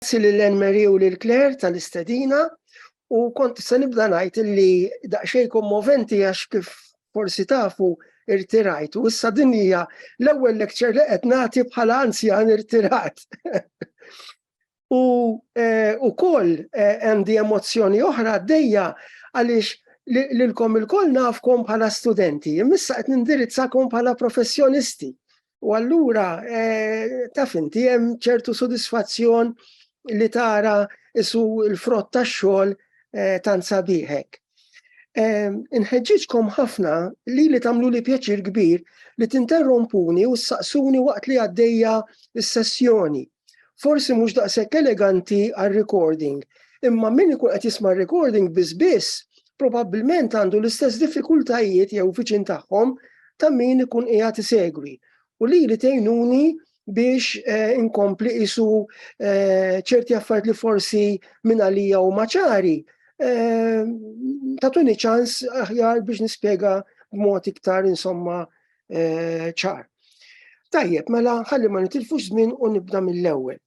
Grazzi lil Anne Marie u lil Claire tal-istedina u kont se nibda ngħid li daqsxejn kommoventi għax kif forsi tafu irtirajt u issa din hija l-ewwel lecture li qed nagħti bħala anzjan irtirat. u eh, ukoll eh, għandi emozzjoni oħra għaddejja għaliex lilkom il-koll nafkom bħala studenti, imissa qed nindirizzakom bħala professjonisti. U allura, eh, taf inti hemm ċertu sodisfazzjon li tara isu l-frott tax-xogħol eh, tant sabiħek. Eh, inħeġġiġkom ħafna li li tagħmlu li pjaċir kbir li tinterrompuni u saqsuni waqt li għaddejja s-sessjoni. Forsi mhux daqshekk eleganti għal recording, imma min ikun qed jisma' recording biss biss, probabbilment għandu l-istess diffikultajiet jew viċin tagħhom ta' min ikun qiegħed isegwi. U li li tgħinuni biex eh, inkompli isu eh, ċerti affarijiet li forsi minn għalija u maċari, eh, tatuni ċans aħjar biex nispjega b'mod iktar insomma eh, ċar. Tajjeb, mela ħalli ma nitilfux żmien u nibda mill-ewwel.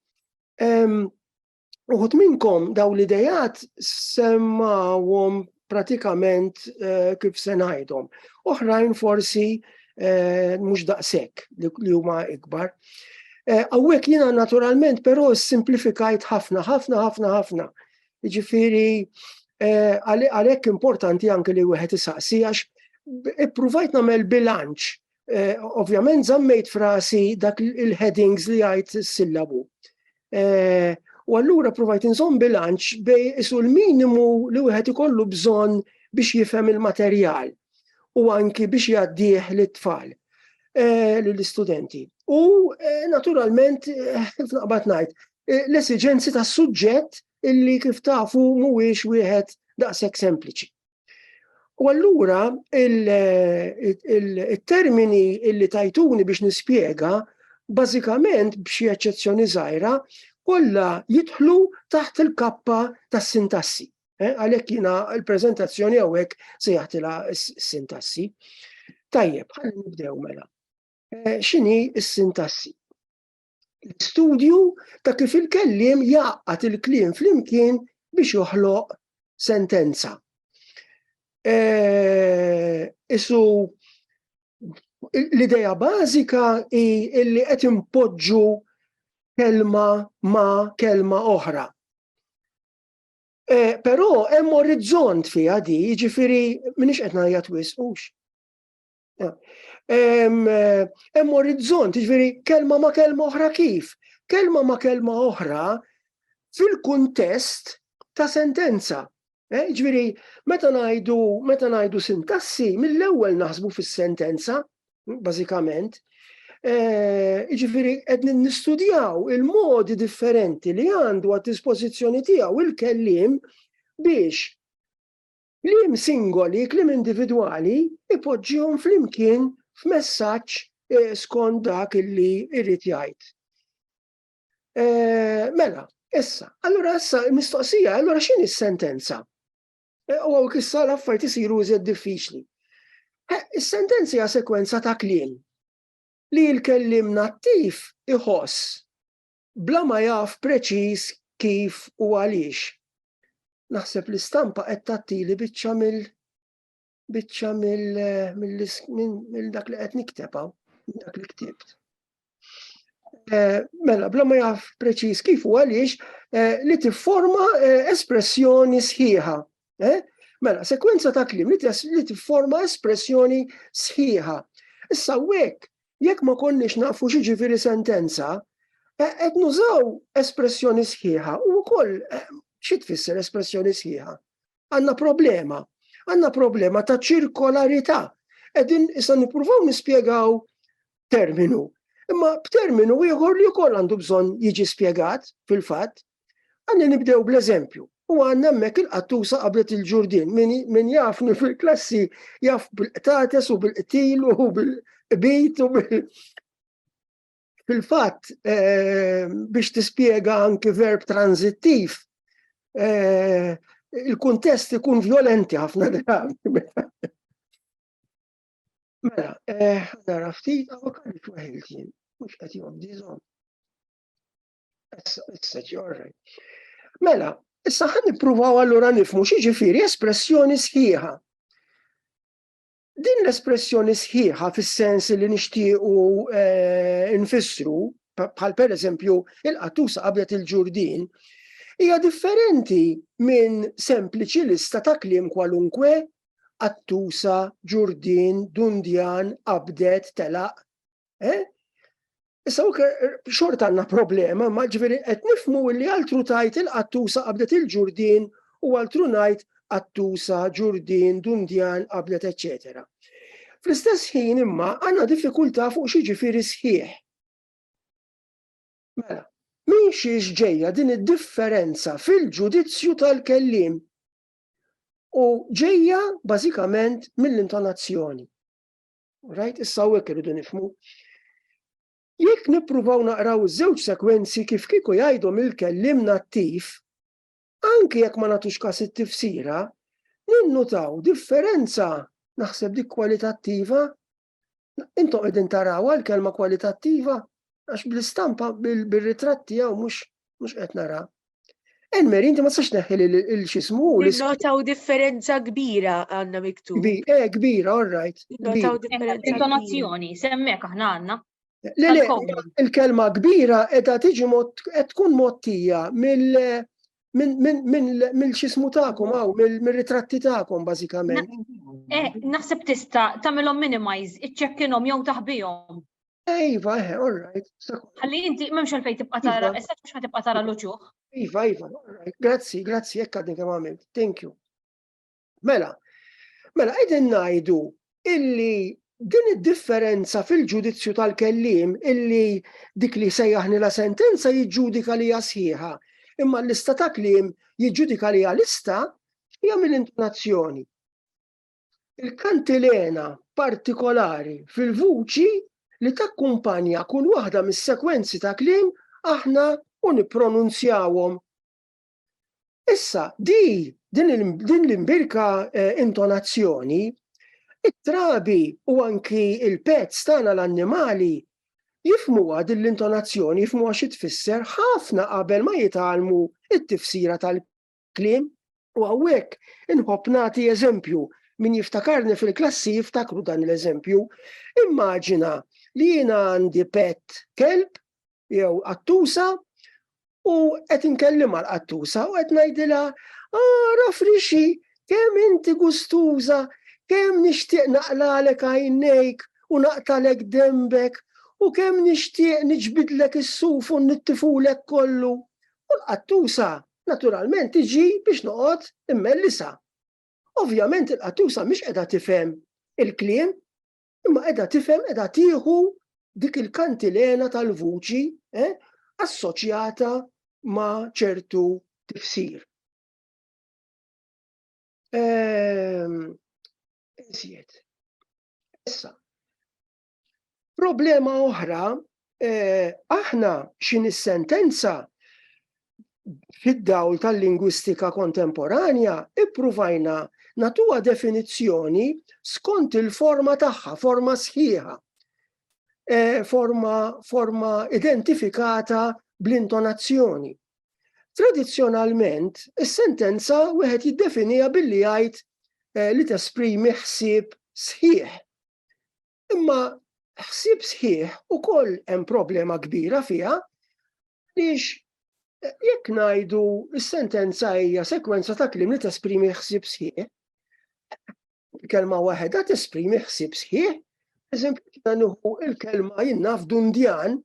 Uħut minnkom daw l-idejat semmawhom pratikament eh, kif se ngħidhom. Oħrajn forsi eh, mhux daqshekk li huma ikbar. Eh, hawnhekk jiena naturalment però simplifikajt ħafna, ħafna, ħafna, ħafna. Jiġifieri għalhekk importanti anke li wieħed isaqsi għax ippruvajt nagħmel bilanċ. Eh, ovvjament żammejt frasi dak il-headings li għajt sillabu. Eh, u allura provajt inżomm bilanċ bej isu l-minimu li wieħed ikollu bżonn biex jifhem il-materjal u anki biex jaddieħ lit-tfal eh, l-istudenti. U naturalment, f'naqbat najt, l-esiġenzi tas-suġġett illi kif tafu mhuwiex wieħed daqshekk sempliċi. U allura il-termini illi tajtuni biex nispjega bażikament b'xi eċċezzjoni żgħira kollha jidħlu taħt il-kappa tas-sintassi. Eh, għalhekk jiena l-preżentazzjoni hawnhekk se jagħtilha s-sintassi. Tajjeb, ħalli nibdew mela. Eh, x'inhi s-sintassi? l-istudju ta' kif il-kelliem jaqgħad il-kliem flimkien biex joħloq sentenza. E, isu l-ideja bażika hi li qed impoġġu kelma ma' kelma oħra. E, però hemm orizzont fiha di, jiġifieri minix qed ngħajjat wisqux. Hemm orizzont, jiġifieri kelma ma' kelma oħra kif? Kelma ma' kelma oħra fil-kuntest ta' sentenza. Eh, ġviri, meta najdu, meta najdu sintassi, mill-ewwel naħsbu fis-sentenza, bażikament, eh, ġviri, qed nistudjaw il-modi differenti li għandu għad dispożizzjoni tiegħu il-kellim biex Kliem singoli, kliem individwali, ipoġġihom flimkien f'messaġġ skont dak illi jrid jgħid. Mela, issa, allura issa mistoqsija, allura x'inhi s-sentenza? U għawk issa l-affarijiet isiru iżjed diffiċli. Is-sentenza hija sekwenza ta' kliem li l-kellim nattiv iħoss bla ma jaf preċiż kif u għaliex. Naħseb l-istampa qed tagħtili biċċa mill biċċa mill mill dak li qed nikteb hawn, dak li ktibt. Eh, mela, bla ma jaf preċiż kif u għaliex eh, li tifforma eh, espressjoni sħiħa. Mela, sekwenza ta' klim li tifforma espressjoni sħiħa. Issa wek jekk ma konniex nafu x'jiġifieri sentenza, eh, qed nużaw espressjoni sħiħa u wkoll eh, xi tfisser espressjoni sħiħa. Għandna problema, għandna problema ta' ċirkolarità. Qegħdin issa nippruvaw nispjegaw terminu. Imma b'terminu ieħor li wkoll għandu bżonn jiġi spjegat fil-fatt, Għandna nibdew bl-eżempju. U għandna hemmhekk il-qattusa qablet il-ġurdin. Min jafni fil-klassi jaf bil-qtates u bil-qtil u bil-qbit u bil Fil-fatt, eh, biex tispjega anki verb tranzittiv, eh, il-kuntest ikun violenti ħafna drabi. Mela, eh, nara ftit, għaw kalli fwaħiltin, mux għati għom dizom. Mela, issa ħan nippruvaw allura nifmu xi ġifieri espressjoni sħiħa. Din l-espressjoni sħiħa fis-sens li nixtiequ eh, nfissru bħal per eżempju il-qattusa qabdet il-ġurdin, hija differenti minn sempliċi lista ta' kliem kwalunkwe qattusa, ġurdin, dundjan, qabdet, telaq, Eh? Issa ok, xorta għanna problema, ma ġveri qed nifmu li altru tajt il-qattusa qabdet il-ġurdin u altru najt qattusa, ġurdin, dundjan, qabdet, etc. Fl-istess ħin imma għanna diffikulta fuq xi ġifieri sħiħ. Mela, minn xiex ġejja din id-differenza fil-ġudizzju tal-kellim u ġejja bażikament mill-intonazzjoni. Rajt issa hawnhekk irridu nifmu. Jekk nippruvaw naqraw żewġ sekwenzi kif kieku jgħidhom il-kellim nattiv, anki jekk ma nagħtux kas it-tifsira, ninnutaw differenza naħseb dik kwalitattiva. Intom qegħdin taraw għal kelma kwalitattiva Għax bl-istampa, bil-ritratt tiegħu mhux mhux qed nara. Elmer, inti ma sax neħħi il-xismu. Notaw differenza kbira għandna miktub. Eh, kbira, all right. Notaw differenza. Intonazzjoni, semmek aħna għandna. Le, le, il-kelma kbira edha tiġi qed tkun mottija mill minn xismu ta'kom għaw, minn ritratti ta'kom bażikament. Eh, naħseb tista' tagħmilhom minimize, iċċekkinhom jew taħbihom. Iva, eh, all right. Għalli inti memx għalfej tibqa tara, iva. issa mux ma tibqa tara l-uċuħ. Iva, iva, all right. Grazzi, grazzi, jekk għadni kem għamilt. Thank you. Mela, mela, għedin najdu illi din id-differenza fil-ġudizzju tal-kellim illi dik li sejjaħni la sentenza jiġġudika li sħiħa, imma l-lista ta' klim jiġġudika li lista hija mill-intonazzjoni. Il-kantilena partikolari fil-vuċi li takkumpanja kull waħda mis-sekwenzi ta' kliem aħna u nippronunzjawhom. Issa, di din l-imbirka eh, intonazzjoni, it-trabi u anki il-pezz tagħna l-annimali jifmuha din l-intonazzjoni, jifmuha xi tfisser ħafna qabel ma jitalmu it-tifsira tal kliem u hawnhekk inħobb nagħti eżempju min jiftakarni fil-klassi jiftakru dan l-eżempju. Immaġina li jiena għandi pet kelb jew qattusa u qed inkellimha l-qattusa u qed ngħidilha ara ah, frixi kemm inti gustuża, kemm nixtieq naqlalek għajnejk u naqtalek dembek u kemm nixtieq niġbidlek is-suf u nittifulek kollu. U l-qattusa naturalment tiġi biex noqgħod immellisa. Ovvjament il-qattusa mhix qiegħda tifhem il-kliem, imma qiegħda tifhem qiegħda tieħu dik il-kantilena tal-vuċi eh, assoċjata ma' ċertu tifsir. Ehm, Iżjed. Issa, Problema oħra, eh, aħna xin is-sentenza fid-dawl tal-lingwistika kontemporanja ippruvajna natuha definizzjoni skont il-forma tagħha, forma sħiħa, e, forma, forma identifikata bl-intonazzjoni. Tradizzjonalment, is-sentenza wieħed jiddefinija billi jgħid e, li tesprimi ħsieb sħiħ Imma ħsieb sħiħ ukoll hemm problema kbira fiha biex eh, jekk ngħidu s-sentenza hija sekwenza ta' kliem li tesprimi ħsieb sħiħ. Kelma waħedha tesprimi ħsieb sħiħ, eżempju ta' nuħu il-kelma jinnaf dundjan,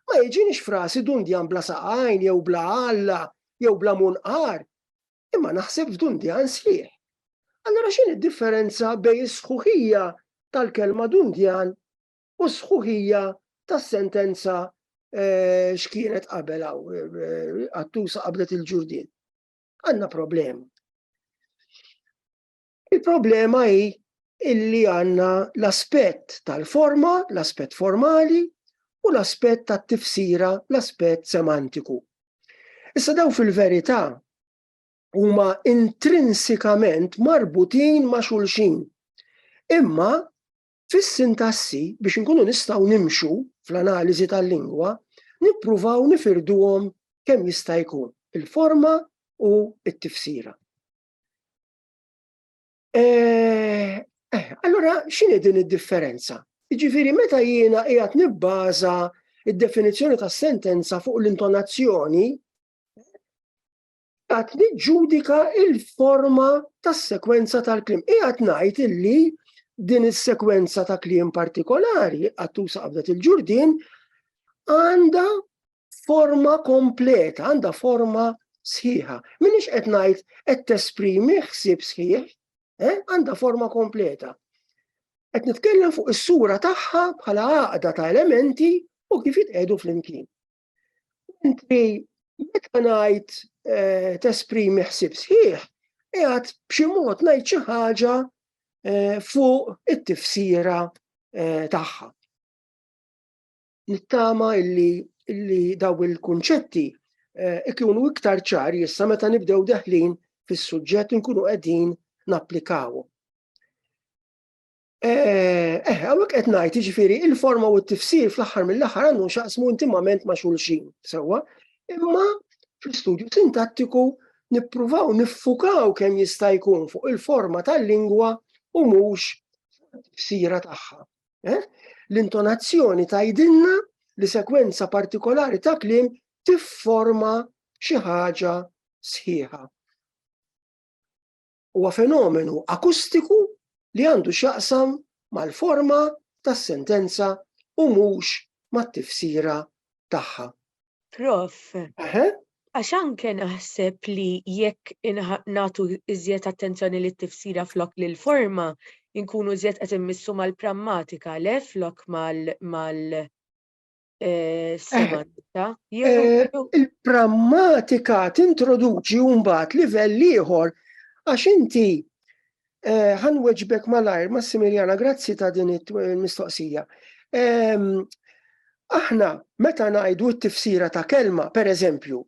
ma jiġinix frasi dundjan bla saqajn jew bla alla jew bla munqar. imma naħseb f'dundjan sħiħ. Allura x'inhi d-differenza bejn is-sħuħija tal-kelma dundjan u s-sħuħija tas-sentenza eh, x'kienet qabel hawn eh, għattusa qabdet il-ġurdin. Għandna problema. Il-problema hi illi għandna l-aspett tal-forma, l-aspett formali u l-aspett tat-tifsira, l-aspett semantiku. Issa daw fil-verità huma intrinsikament marbutin ma' xulxin. Imma fis-sintassi biex inkunu nistgħu nimxu fl-analiżi tal-lingwa, nippruvaw nifirduhom kemm jista' jkun il-forma u t-tifsira. Eh, eh, allora x'inhi din id-differenza? Jiġifieri meta jiena qiegħed nibbaża id-definizzjoni ta' sentenza fuq l-intonazzjoni għat niġġudika il-forma tas sekwenza tal-klim. Iqat najt illi din is-sekwenza ta' klim partikolari għattu saqbdet il-ġurdin għanda forma kompleta, għandha forma sħiħa. Minix qed ngħid qed tesprimi ħsieb sħiħ, eh? għandha forma kompleta. Qed nitkellem fuq is-sura tagħha bħala għaqda ta' elementi u kif jitqedu flimkien. Inti meta ngħid eh, tesprimi ħsieb sħiħ, qiegħed b'xi mod ngħid xi ħaġa eh, fuq it-tifsira tagħha. Nittama illi, illi daw il-kunċetti eh, ikunu iktar ċari issa meta nibdew deħlin fis-suġġett nkunu qegħdin napplikaw. Eh, eh għawek qed ngħid jiġifieri il-forma u t-tifsir fl-aħħar mill-aħħar għandu xaqsmu intimament ma' xulxin, sewwa, imma fl-istudju sintattiku nippruvaw niffukaw kemm jista' jkun fuq il-forma tal-lingwa u mhux sira tagħha. Eh? L-intonazzjoni tajdinna li sekwenza partikolari ta' klim tifforma xi ħaġa sħiħa. Huwa fenomenu akustiku li għandu x'jaqsam mal-forma tas-sentenza u mhux mat-tifsira tagħha. Prof. Aha. Għax anke naħseb li jekk nagħtu iżjed attenzjoni lit tifsira flok lil forma, inkunu iżjed qed immissu mal-prammatika le flok mal eh, semantika. Eh, il-prammatika tintroduċi mbagħad livell ieħor għax inti Ħa nweġbek malajr, Massimiljana, grazzi ta' din il-mistoqsija. Aħna meta ngħidu t-tifsira ta' kelma, per eżempju,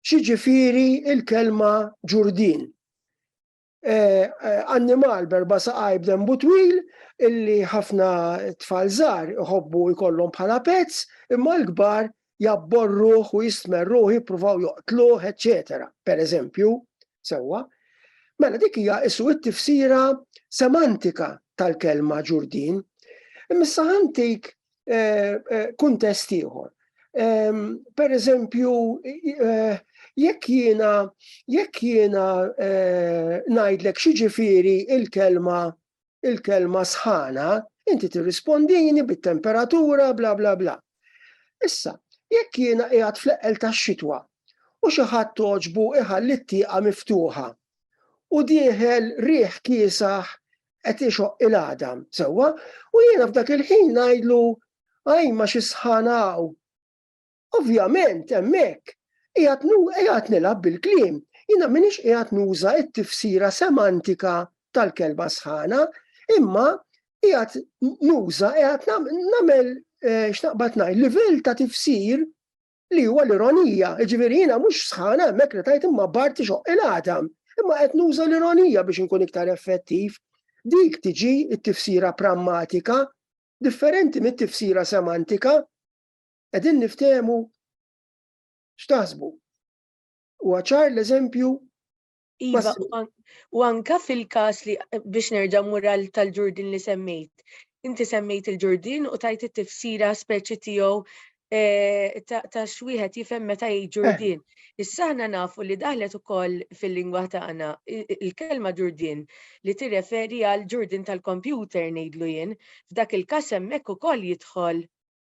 xiġifieri il-kelma ġurdin. Annimal berba saqaj b'dembu twil illi ħafna tfal żgħar iħobbu jkollhom bħala pets, imma l-kbar jabborruh u jistmerruh, jippruvaw joqtluh, eċċetera, pereżempju, sewwa, mela dik hija isu t-tifsira semantika tal-kelma ġurdin. Imma issa ħantik eh, eh, kuntest ieħor. Ehm, per eżempju, eh, jekk jiena jekk jiena ngħidlek xi ġifieri il-kelma il-kelma sħana, inti tirrispondini bit-temperatura bla bla bla. Issa, jekk jiena qiegħed fl-eqqel tax-xitwa u xi ħadd toġbu iħalli t-tieqa miftuħa u dieħel riħ kiesaħ qed ixoq il-għadam, sewwa, u jiena f'dak il-ħin ngħidlu għaj ma xi sħanaw. Ovvjament hemmhekk qiegħed nu qiegħed nilgħab bil-kliem. Jiena m'iniex qiegħed nuża t-tifsira semantika tal-kelma sħana, imma qiegħed nuża qiegħed nagħmel eh, x'naqbad ngħid livell ta' tifsir li huwa l-ironija, ġifieri jiena mhux sħana hemmhekk li tajt imma barti xoq il-għadam, imma qed nuża l-ironija biex inkun iktar effettiv. Dik tiġi t-tifsira prammatika differenti mit-tifsira semantika. Qegħdin niftehmu x'taħsbu. Huwa ċar l-eżempju Iva, u anka fil-kas li biex nerġa' mural tal-ġurdin li semmejt. Inti semmejt il-ġurdin u tajt it-tifsira speċi tiegħu eh, ta' xwieħed jifhem meta jgħid eh. ġurdin. Issa aħna nafu li daħlet ukoll fil-lingwa tagħna il-kelma ġurdin li tirreferi għal ġurdin tal-kompjuter ngħidlu jien, f'dak il-każ hemmhekk ukoll jidħol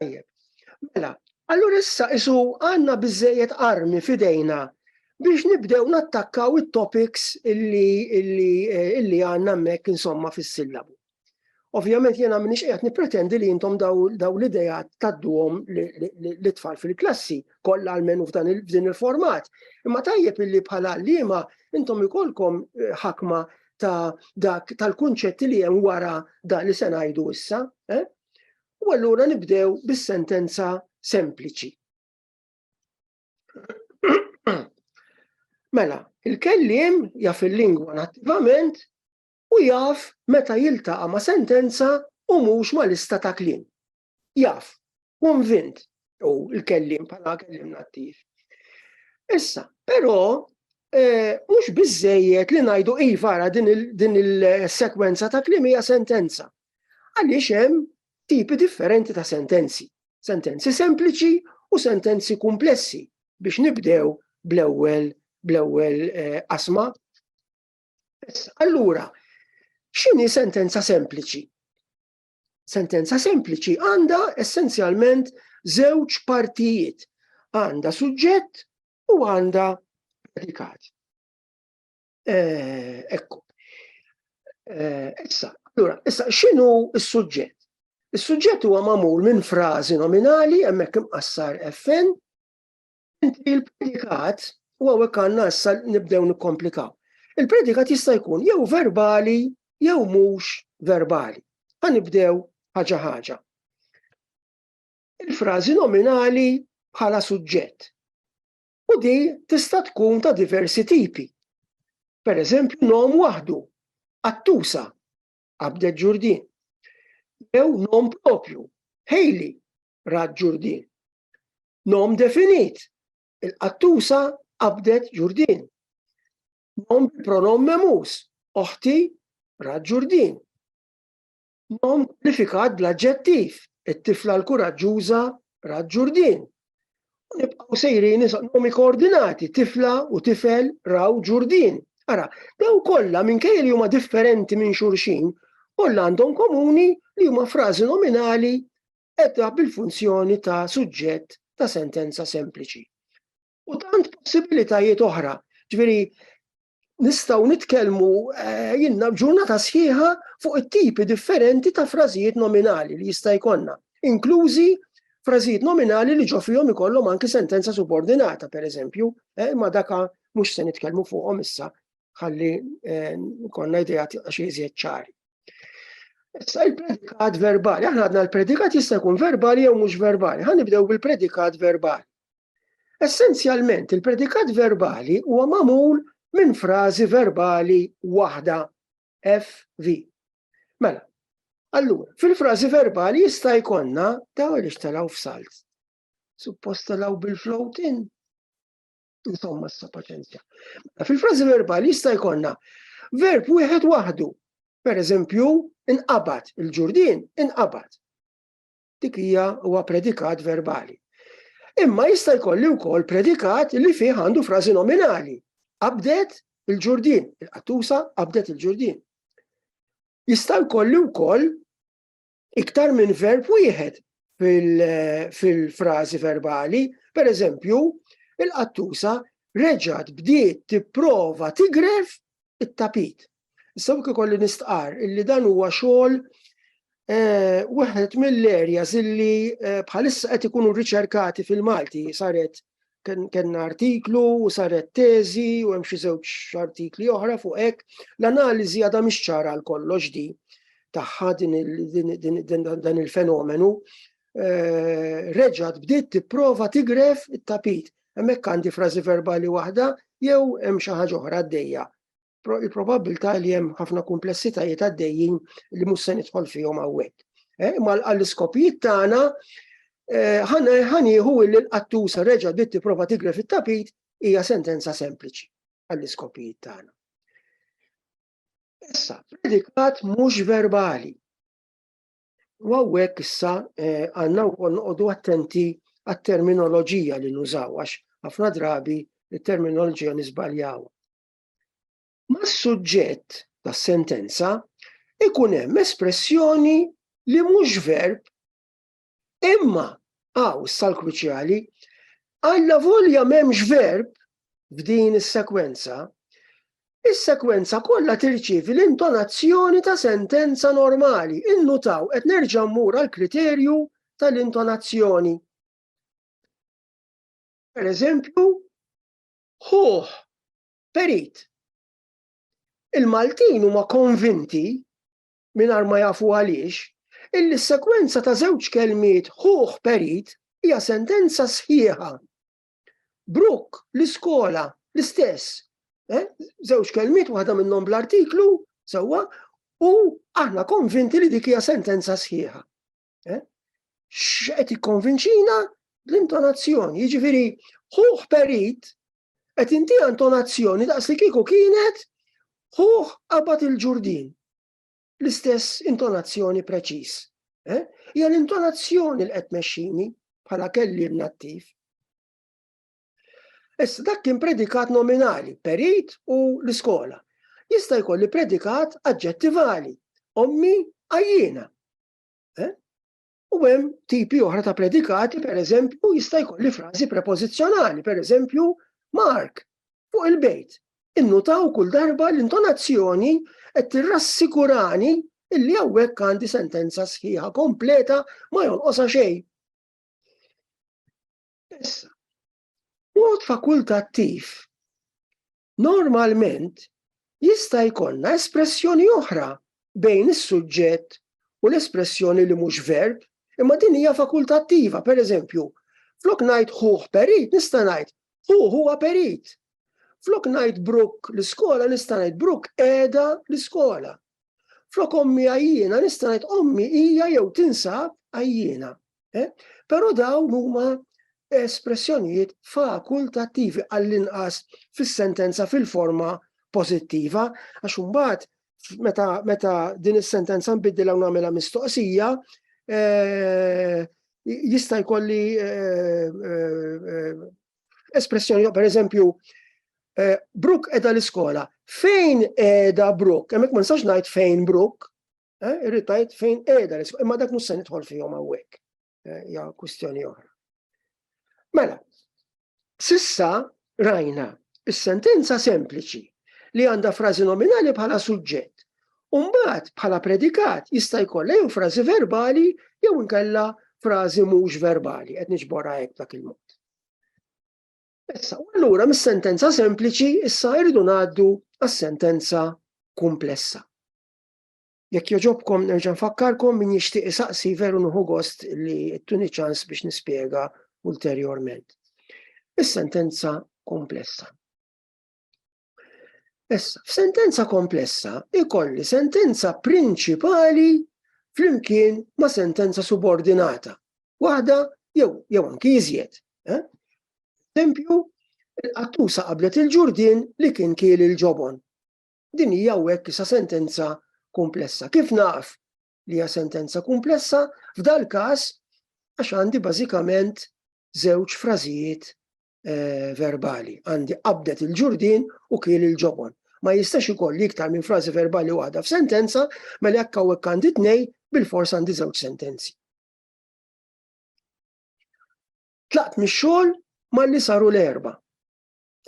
Tajjeb. Mela, allura issa isu għandna biżejjed armi fidejna biex nibdew nattakkaw it-topics illi illi illi għandna hemmhekk insomma fis-sillabu. Ovvjament jiena minix qiegħed nippretendi li intom daw l-idea tadduhom li tfal fil-klassi kollha almenu f'dan il-din il-format. Imma tajjeb illi bħala liema intom ikolkom eh, ħakma ta' dak tal-kunċetti li hemm wara dan li se ngħidu issa. Eh? U allura nibdew bis-sentenza sempliċi. Mela, il-kellim jaf il-lingwa nattivament u jaf meta jiltaqa ma' sentenza u mhux ma' lista ta' klim. Jaf, konvint u l-kellim bħala kellim nattiv. Issa, però, eh, mhux biżejjed li ngħidu iva din il-sekwenza ta' klim hija sentenza. Għaliex hemm tipi differenti ta' sentenzi, sentenzi sempliċi u sentenzi kumplessi biex nibdew bl-ewwel bl-ewwel eh, asma. Allura, x'inhi sentenza sempliċi? Sentenza sempliċi għandha essenzjalment żewġ partijiet. Għandha suġġett u għandha predikat. Eh, ekku. Eh, issa, allura, issa x'inhu s-suġġett? Is-suġġett huwa magħmul minn frażi nominali hemmhekk imqassar FN, inti l-predikat u hawnhekk għandna issa nibdew nikkomplikaw. Il-predikat jista' jkun jew verbali jew mhux verbali. Ħanibdew ħaġa ħaġa. Il-frażi nominali bħala suġġett. u di tista' tkun ta' diversi tipi. Per eżempju nom waħdu, Attusa, qabdet Ġurdin. Jew nom propju, Haley, rat Ġurdin. Nom definit, il-qattusa qabdet Ġurdin. Nom bil-pronom memus, oħti rat Ġurdin. Ma hu mkwalifikat bl-aġġettiv, it-tifla l-kuraġġuża rat Ġurdien. U nibqgħu sejrin issa nomi koordinati, tifla u tifel raw Ġurdien. Ara, daw kollha minkejja li huma differenti minn xulxin, kollha għandhom komuni li huma frażi nominali edha bil-funzjoni ta' suġġett ta' sentenza sempliċi. U tant possibilitajiet oħra, ġviri, nistaw nitkelmu eh, jinna ġurnata sħiħa fuq it-tipi differenti ta' frażijiet nominali li jista' jkollna, inklużi frażijiet nominali li ġofijom ikollhom anki sentenza subordinata, per eżempju, eh, ma daka mhux se nitkellmu fuqhom issa ħalli eh, konna idea xi iżjed ċari. Issa il-predikat verbali, aħna għadna l-predikat jista' jkun verbali jew mhux verbali. Ħa nibdew bil-predikat verbali. Essenzjalment, il-predikat verbali huwa magħmul minn frażi verbali waħda FV. Mela, allura, fil-frażi verbali jista' jkollna daw li xtalaw f'salt. Suppost talaw bil-float in. Insomma, sa paċenzja. Mela, fil-frażi verbali jista' jkollna verb wieħed waħdu. Per eżempju, inqabad, il-ġurdin inqabad. dik hija huwa predikat verbali. Imma jista' jkolli wkoll predikat li fih għandu frażi nominali. Abdet il-ġurdin, il-qattusa abdet il-ġurdin. Jista' jkolli wkoll iktar minn verb wieħed fil-frażi verbali, per eżempju, il-qattusa reġat bdiet tipprova tigref it-tapit. Issa hawnhekk ikolli nistqar illi dan huwa xogħol Eh, waħed mill-areas illi eh, bħalissa qed ikunu riċerkati fil-Malti saret kenna artiklu u saret teżi u hemm xi żewġ artikli oħra fuq hekk. L-analiżi għadha mhix ċara għal kollox di tagħha dan il-fenomenu. Eh, reġgħet bdiet tipprova tigref it-tapit. Hemmhekk għandi frażi verbali waħda jew hemm xi ħaġa oħra għaddejja. Il-probabbiltà li hemm ħafna kumplessitajiet għaddejjin li mhux se nidħol fihom hawnhekk. Eh, imma għall-iskopijiet tagħna eh, ħanieħu li l-qattusa reġa' bdiet tipprova tigre fit-tapit hija sentenza sempliċi għall-iskopijiet tagħna. Issa, predikat mhux verbali. U għawek issa eh, għanna u koll noqdu attenti għat-terminoloġija li nużaw, għax ħafna drabi il-terminoloġija nizbaljaw. Ma s-suġġett ta' sentenza ikun hemm espressjoni li mhux verb imma għaw sal-kruċjali għalla volja m'hemmx verb f'din is-sekwenza, is-sekwenza kollha tirċievi l-intonazzjoni ta' sentenza normali. Innutaw qed nerġa' mmur għall-kriterju tal-intonazzjoni. Per eżempju, ħuħ, perit. Il-Maltin huma konvinti mingħajr ma jafu għaliex illi s-sekwenza ta' żewġ kelmiet ħuħ perit hija sentenza sħiħa Brooke, l-iskola, l-istess. Eh? Żewġ kelmiet waħda minnhom bl-artiklu, sewwa, u aħna konvinti li dik hija sentenza sħiħa. Eh? X'qed ikkonvinċina l-intonazzjoni, jiġifieri ħuħ perit qed inti intonazzjoni daqs li kieku kienet ħuħ qabad il-ġurdin. l-istess intonazzjoni preċiż. Eh? Hija l-intonazzjoni li qed mexxini bħala kelli nattiv. Issa dak kien predikat nominali, perit u l-iskola. Jista' jkolli predikat aġġettivali, ommi għajjina. Eh? U hemm tipi oħra ta' predikati, per eżempju, jista' jkolli frażi prepożizzjonali, per eżempju, Mark, fuq il-bejt. Innutaw kull darba l-intonazzjoni qed tirrassikurani illi hawnhekk għandi sentenza sħiħa kompleta ma jonqosha xejn. Issa, mod fakultattiv Normalment, jista' jkollna espressjoni oħra bejn is-suġġett u l-espressjoni li mhux verb, imma din hija fakultattiva, pereżempju, flok ngħid ħuh perit nista' ngħid hu huwa perit. Flok ngħid Bruk l-iskola nista' ngħid Bruk qiegħda l-iskola. Flok ommi għajjina nista' ngħid ommi hija jew tinsab għajjina. Eh? Però dawn huma espressjonijiet fakultattivi għall-inqas fis-sentenza fil-forma pożittiva, għax imbagħad meta, meta din is-sentenza nbiddilha u nagħmilha mistoqsija, eh, jista' jkolli eh, eh, espressjoni, per eżempju, eh, Brook edha l-iskola. Fejn edha Brook? Hemmhekk ma nistax ngħid fejn Brook, Eh, irrid tgħid fejn qiegħda l-isfel, imma dak mhux se nidħol fihom hawnhekk. Eh, ja kwistjoni oħra. Mela, sissa rajna is-sentenza sempliċi li għandha frażi nominali bħala suġġett. Umbagħad bħala predikat jista' jkollha jew frażi verbali jew inkella frażi mhux verbali qed niġborha hekk dak il-mod. Issa, allura mis-sentenza sempliċi issa irridu ngħaddu għas-sentenza kumplessa. Jekk jogħġobkom nerġa' nfakkarkom min jixtieq isaqsi veru nuħu gost li tuni ċans biex nispjega ulterjorment. Is-sentenza komplessa. Issa, f'sentenza komplessa ikolli sentenza prinċipali flimkien ma' sentenza subordinata. Waħda jew jew anki iżjed. Eh? Tempju, il-qattusa qablet il-ġurdin li kien kiel il-ġobon. Din hija hawnhekk isa sentenza kumplessa. Kif naf li hija sentenza kumplessa, f'dal każ għax għandi bażikament żewġ frażijiet eh, verbali. Għandi qabdet il-ġurdin u kiel il-ġobon. Ma jistax ikolli iktar minn frażi verbali waħda f'sentenza, mela jekk hawnhekk għandi tnej, bil-fors għandi żewġ sentenzi. Tlaqt mix-xogħol malli saru l-erba.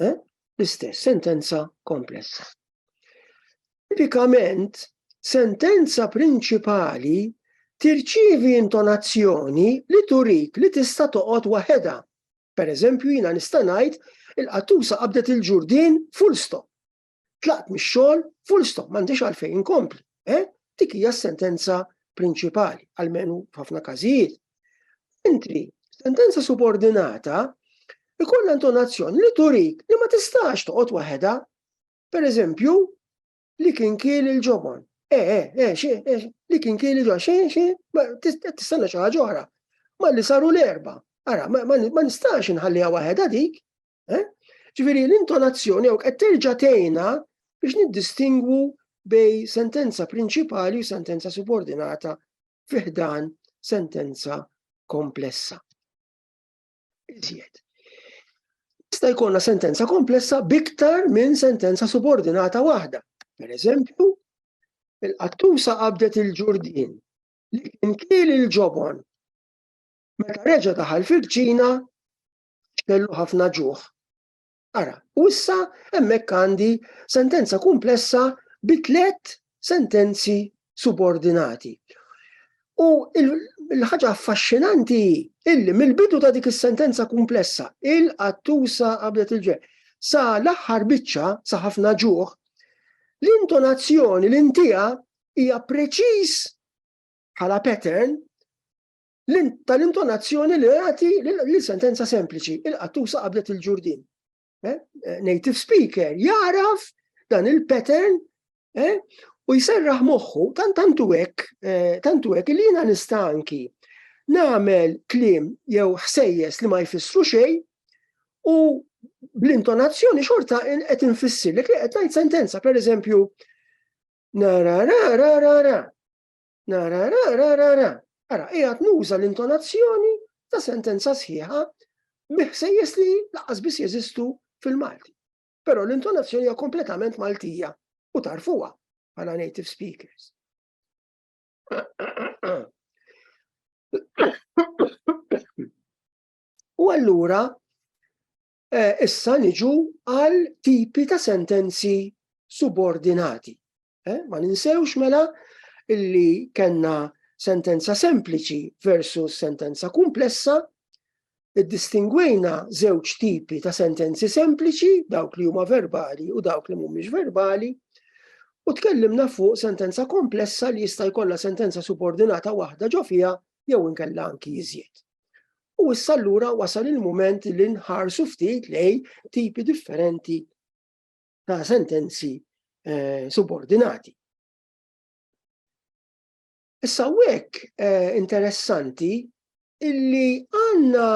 Eh? L-istess, sentenza komplessa. Tipikament, sentenza prinċipali tirċivi intonazzjoni li turik li tista' toqgħod waħedha. Per eżempju, jina nista' ngħid il-qattusa qabdet il-ġurdin full stop. Tlaqt mix-xogħol full stop m'għandix għalfejn inkompli. Eh? Dik hija s-sentenza prinċipali, għalmenu f'ħafna każijiet. Intri, sentenza subordinata ikun intonazzjoni li turik li ma tistax toqgħod waħedha. Per eżempju, li kien kiel il-ġobon. Eh, eh, eh, xi, eh, li kien kiel il-ġobon, xi, xi, tistenna xi ħaġa oħra. Ma li saru l-erba. Ara, ma nistax inħalliha waħedha dik. Eh? Ġifieri l-intonazzjoni hawn qed terġa' tgħinna biex niddistingwu bej sentenza prinċipali u sentenza subordinata fiħdan sentenza komplessa. Iżjed. Sta jkollna sentenza komplessa biktar minn sentenza subordinata waħda. Per eżempju, il-qattusa qabdet il-ġurdin li kien kiel il-ġobon. Meta reġa daħal fil-ċina, x'kellu ħafna ġuħ. Ara, u issa hemmhekk għandi sentenza kumplessa bi tliet sentenzi subordinati. U l-ħaġa affaxxinanti illi mill-bidu ta' dik is-sentenza kumplessa, il-qattusa qabdet il-ġe, sa l-aħħar biċċa, sa ħafna ġuħ, l-intonazzjoni l-intija hija preċiż bħala pattern tal-intonazzjoni li jagħti li sentenza sempliċi, il-qattusa qabdet il-ġurdin. Eh? Eh, native speaker jaraf dan il-pattern eh? u jserraħ moħħu tant tantu hekk, tantu hekk li jiena nista' anki nagħmel kliem jew ħsejjes li ma jfissru xejn u bl-intonazzjoni xorta qed infissir li qed ngħid sentenza, pereżempju, na ra ra ra ra ra. Nara, ra, ra, ra, ra. Ara, qiegħed nuża l-intonazzjoni ta' sentenza sħiħa biħsejjes li laqas biss jeżistu fil-Malti. Però l-intonazzjoni hija kompletament Maltija u tarfuha bħala native speakers. U allura Issa niġu għal tipi ta' sentenzi subordinati. Ma ninsewx mela illi kellna sentenza sempliċi versus sentenza kumplessa, iddistingwejna żewġ tipi ta' sentenzi sempliċi, dawk li huma verbali u dawk li mhumiex verbali, u tkellimna fuq sentenza komplessa li jista' jkollha sentenza subordinata waħda ġo fiha jew inkella anki iżjed. U issa allura wasal il-mument li nħarsu ftit lej tipi differenti ta' sentenzi eh, subordinati. Issa wek eh, interessanti illi għanna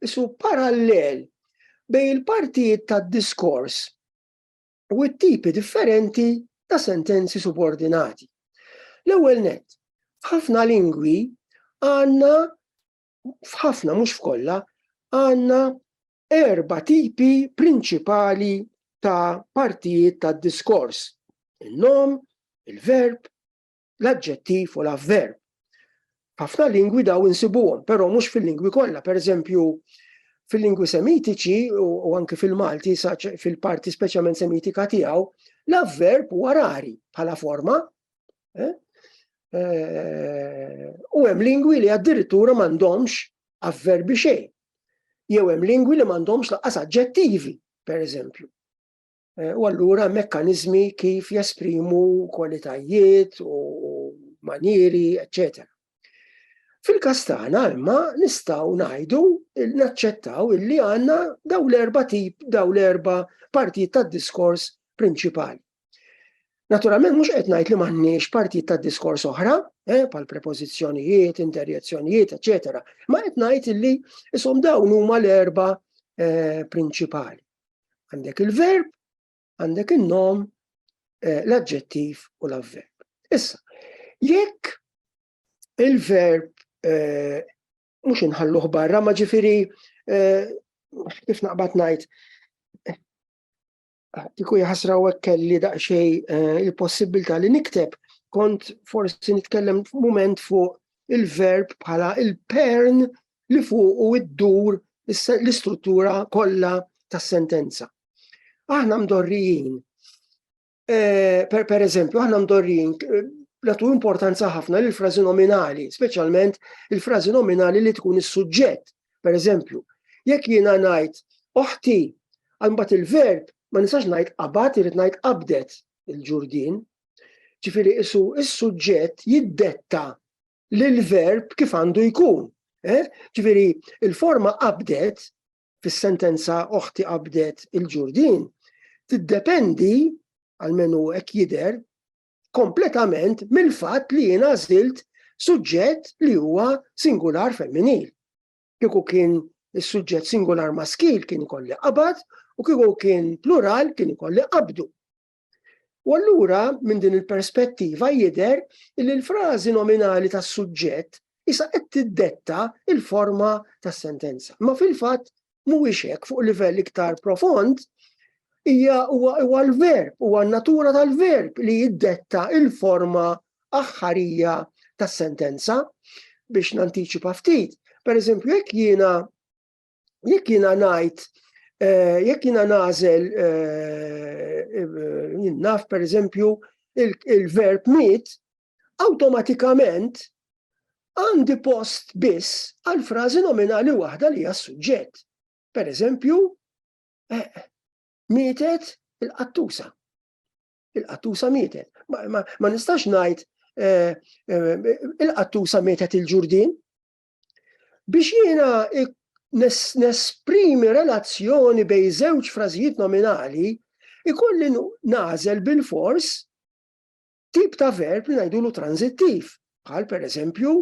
isu parallel bej il-partijiet ta' diskors u t-tipi differenti ta' sentenzi subordinati. L-ewwel net, f'ħafna lingwi għandna f'ħafna mhux f'kollha għandna erba tipi prinċipali ta' partijiet ta' diskors. Il-nom, il-verb, l-aġġettiv u l-avverb. F'ħafna lingwi daw insibuhom, però mhux fil-lingwi kollha, pereżempju fil-lingwi semitiċi u anke fil-Malti, fil-parti speċjalment semitika tiegħu, l-avverb huwa rari bħala forma. Eh? Eh, u hemm lingwi li addirittura m'għandhomx avverbi xejn. Jew hemm lingwi li m'għandhomx laqas aġġettivi, pereżempju. Eh, u allura mekkanizmi kif jesprimu kwalitajiet u manieri, eccetera. Fil-kas tagħna imma nistgħu ngħidu naċċettaw illi għandna daw l-erba tip, daw l-erba partijiet tad-diskors prinċipali. Naturalment mhux qed ngħid li m'għandniex partijiet tad-diskors oħra, eh, pal prepożizzjonijiet, interjezzjonijiet, eċetera, ma qed ngħid illi isom dawn huma l-erba eh, prinċipali. Għandek il-verb, għandek il-nom, eh, l-adġettiv u l-avverb. Issa, jekk il-verb eh, mux inħalluħ barra, ma ġifiri, eh, kif naqbat najt, tiku jħasra u kelli daqxej il-possibilta li nikteb, kont forsi nitkellem moment fuq il-verb bħala il-pern li fuqu iddur l-istruttura kollha tas-sentenza. Aħna mdorrijin, eh, per, per eżempju, aħna mdorrijin eh, natu importanza ħafna lil frażi nominali, speċjalment il-frażi nominali li tkun is-suġġett. Per eżempju, jekk jiena ngħid oħti, għal il-verb ma nistax ngħid qabad irid ngħid qabdet il-ġurdin, Ġifieri isu s-suġġett jiddetta l-verb kif għandu jkun. Eh? Ġifieri il-forma qabdet fis-sentenza oħti qabdet il-ġurdin tiddependi għalmenu hekk jidher kompletament mill-fatt li jiena żilt suġġett li huwa singular femminil. Kieku kien is-suġġett singular maskil kien ikolli qabad u kieku kien plural kien ikolli qabdu. U allura minn din il-perspettiva jidher li l-frażi nominali tas-suġġett isa qed tiddetta il-forma tas-sentenza. Ma fil-fatt mhuwiex hekk fuq livell iktar profond hija huwa l-verb, huwa n-natura tal-verb li jiddetta il-forma aħħarija tas-sentenza biex nantiċipa ftit. Per eżempju, jekk jiena jekk jiena ngħid eh, jekk jiena nagħżel eh, naf pereżempju il-verb mit, awtomatikament għandi post biss għal frażi nominali waħda li hija suġġett. Per eżempju, eh, mietet il-qattusa. Il-qattusa mietet. Ma, nistax ngħid il-qattusa mietet il-ġurdin, Biex jiena nesprimi relazzjoni bej żewġ frażijiet nominali, ikolli nażel bil-fors tip ta' verb li ngħidulu tranzittiv, bħal per eżempju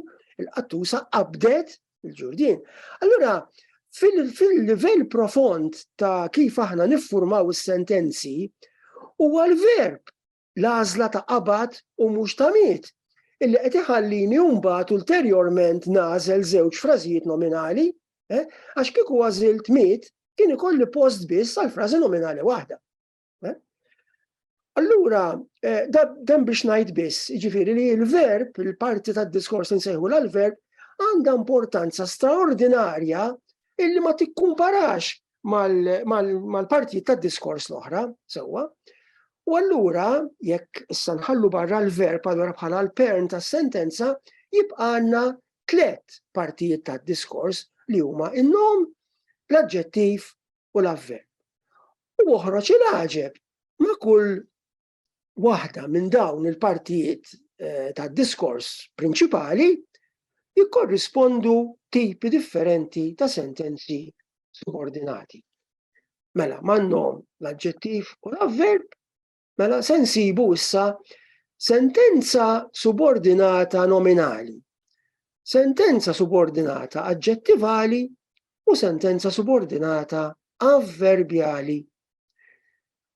il-qattusa qabdet il-ġurdin. Allura, fil-livell profond ta' kif aħna niffurmaw is-sentenzi, huwa l-verb l-għażla ta' qabad u mhux ta' miet, illi qed iħallini mbagħad ulterjorment nagħżel żewġ frażijiet nominali, eh, għax kieku għażilt miet kien ikolli post biss għal frażi nominali waħda. Eh. Allura, eh, dan biex ngħid biss, jiġifieri li l-verb, il-parti tad-diskors insejħu l-verb, għandha importanza straordinarja illi ma tikkumparax mal-partijiet tad-diskors l-oħra, sewwa. U allura jekk issa nħallu barra l-verb allura bħala l-pern tas-sentenza jibqanna tliet partijiet tad-diskors li huma in-nom, l-aġġettiv u l-avverb. U oħroġ il-għaġeb ma' kull waħda minn dawn il-partijiet eh, tad-diskors prinċipali jikkorrispondu tipi differenti ta' sentenzi subordinati. Mela, mannom l-adġettiv u l-avverb, mela sensibu issa sentenza subordinata nominali, sentenza subordinata aġġettivali u sentenza subordinata avverbjali.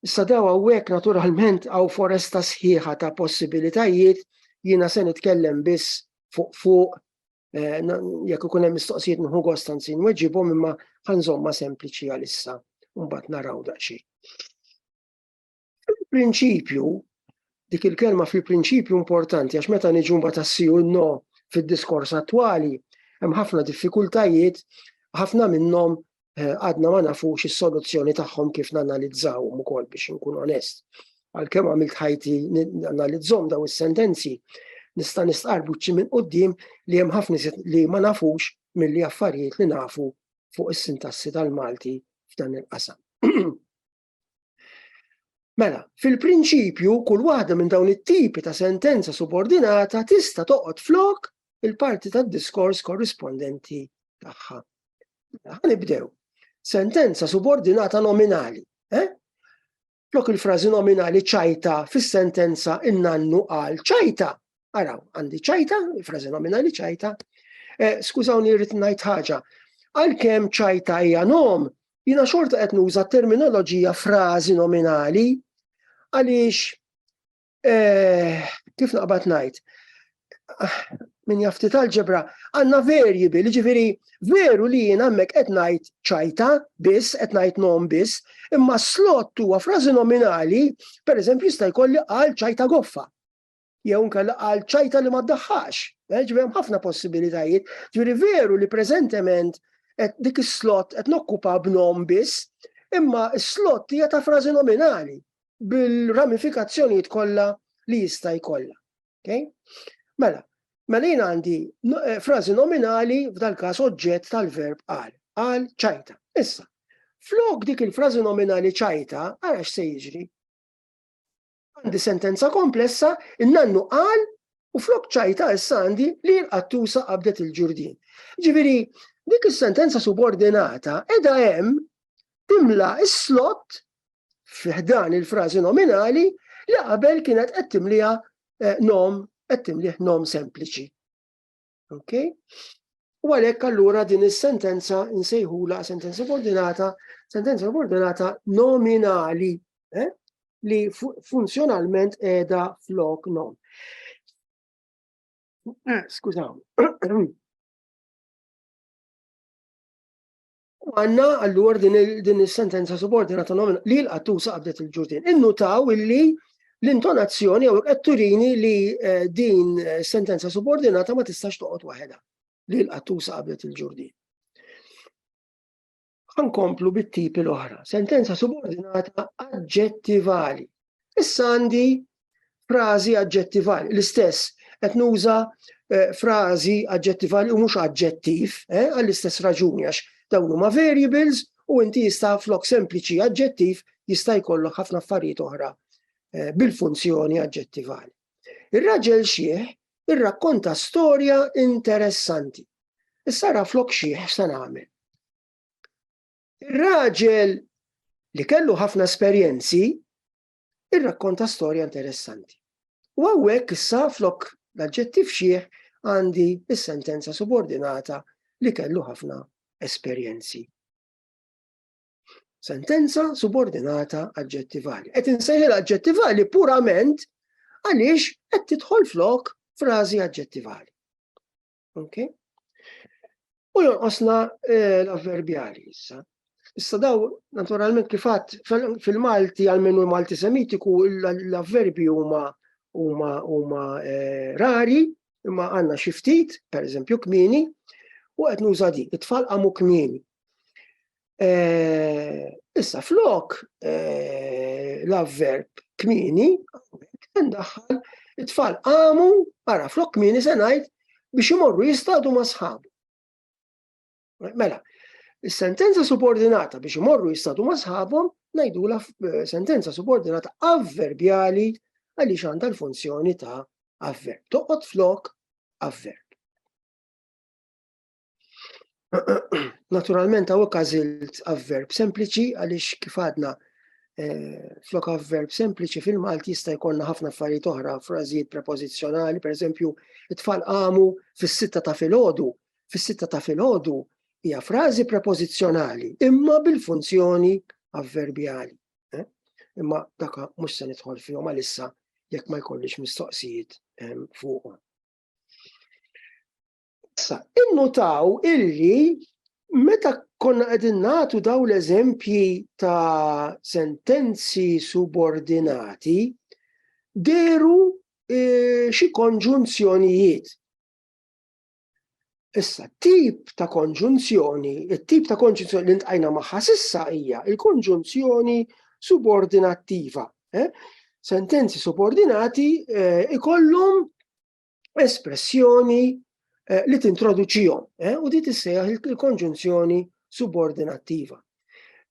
Issa daw hawnhekk naturalment hawn foresta sħiħa ta' possibilitajiet, jiena se nitkellem biss fuq fuq eh, jekk ikun hemm mistoqsijiet nħu gost anzi nweġibhom imma ħanżomma sempliċi għalissa mbagħad naraw daqsxi. Fil-prinċipju, dik il-kelma fil-prinċipju importanti għax meta niġu mbagħad assiju no fid-diskors attwali, hemm ħafna diffikultajiet, ħafna minnhom għadna ma nafux is-soluzzjoni tagħhom kif nanalizzawhom ukoll biex inkun onest. Għalkemm għamilt ħajti nanalizzhom daw is-sentenzi, nista' nistqar buċċi minn qudiem li hemm ħafna li ma nafux milli affarijiet li nafu fuq is-sintassi tal-Malti f'dan il-qasam. Mela, fil-prinċipju, kull waħda minn dawn it-tipi ta' sentenza subordinata tista' toqgħod flok il-parti tad-diskors korrispondenti tagħha. Mela, ħanibdew. Sentenza subordinata nominali. Eh? Flok il-frażi nominali ċajta fis-sentenza in-nannu qal ċajta. Araw, għandi ċajta, frażi nominali ċajta, eh, skużawni rrid ngħid ħaġa. Għalkemm ċajta hija nom, jiena xorta qed nuża terminoloġija frażi nominali għaliex eh, kif naqbad ngħid ah, min jafti tal-ġebra, għanna verji bil, ġifiri, veru li jien għammek etnajt ċajta bis, etnajt nom bis, imma slot huwa frażi nominali, per eżempju, jista' jkolli għal ċajta goffa. jew nkella għal ċajta li ma ddaħħax. Eh, ġifieri hemm ħafna possibilitajiet. Ġifieri veru li preżentement dik is-slot qed nokkupa b'nom biss, imma s-slot hija ta' frażi nominali bil-ramifikazzjonijiet kollha li jista' jkollha. Okay? Mela, mela jien għandi eh, frażi nominali f'dal-każ oġġett tal-verb għal, għal ċajta. Issa, flok dik il-frażi nominali ċajta, għara x'se jiġri? Għandi sentenza komplessa, in-nannu qal u flok ċajta issa għandi li l-qattusa qabdet il-ġurdin. Ġifieri, dik is-sentenza subordinata edha hemm timla is-slot fiħdan il-frażi nominali li qabel kienet qed timliha eh, nom qed timlih nom sempliċi. Okay? U għalhekk allura din is-sentenza nsejħula sentenza subordinata, sentenza subordinata nominali eh? li funzjonalment qiegħda flok non. Eh, skużaw. U għanna għallur din il-sentenza subordinata nomina li l-qattusa qabdet il-ġurdin. Innutaw illi l-intonazzjoni jew qed turini li eh, din eh, sentenza subordinata ma tistax toqgħod waħedha li l-qattusa qabdet il-ġurdin. Għankomplu bit-tipi l-oħra. Sentenza subordinata aġġettivali. Issa għandi frażi aġġettivali, l-istess, qed nuża eh, frażi aġġettivali u mhux aġġettiv, eh, għall-istess raġuni għax dawn huma variables u inti jista' flok sempliċi aġġettiv jista' jkollok ħafna affarijiet oħra eh, bil-funzjoni aġġettivali. Ir-raġel xieħ irrakkonta storja interessanti. Issa ra flok xieħ se nagħmel. Ir-raġel li kellu ħafna esperjenzi irrakkonta storja interessanti. U hawnhekk issa flok l-aġġettiv xieħ għandi is-sentenza subordinata li kellu ħafna esperjenzi. Sentenza subordinata aġġettivali. Qed insejħil aġġettivali purament għaliex qed tidħol flok frażi aġġettivali. Okay? U jonqosna eh, l-avverbjali issa. Issa daw, naturalment kifat, fil-Malti, għalmenu Malti semitiku, l-avverbi huma huma huma eh, rari, imma għanna xiftit, per eżempju, kmini, u qed nuża din, it-tfal qamu kmini. Eh, issa flok eh, l-avverb kmini, ndaħħal it-tfal qamu, ara flok kmini se ngħid biex imorru jistadu ma' sħabu. Mela, is-sentenza subordinata biex imorru jistadu ma' sħabhom ngħidu la eh, sentenza subordinata avverbjali għaliex għandha l-funzjoni ta' avverb. Toqgħod flok avverb. Naturalment għaw għażilt avverb sempliċi għaliex kif għadna eh, flok avverb sempliċi fil-Malti jista' jkollna ħafna affarijiet oħra, frażijiet prepożizzjonali, pereżempju, it-tfal qamu fis-sitta ta' filgħodu, fis-sitta ta' filgħodu hija frażi prepożizzjonali, imma bil-funzjoni avverbjali. Eh? Imma daka mhux se nidħol fihom għalissa jekk ma jkollix mistoqsijiet eh, fuqhom. Issa, innutaw illi meta konna qegħdin nagħtu daw l-eżempji ta' sentenzi subordinati, deru eh, xi konġunzjonijiet. Issa, tip ta' konġunzjoni, it-tip ta' konġunzjoni li ntqajna magħha sissa hija il-konġunzjoni subordinattiva. Eh? Sentenzi subordinati eh, ikollhom espressjoni eh, li tintroduċihom eh, u di tissejjaħ il-konġunzjoni subordinattiva.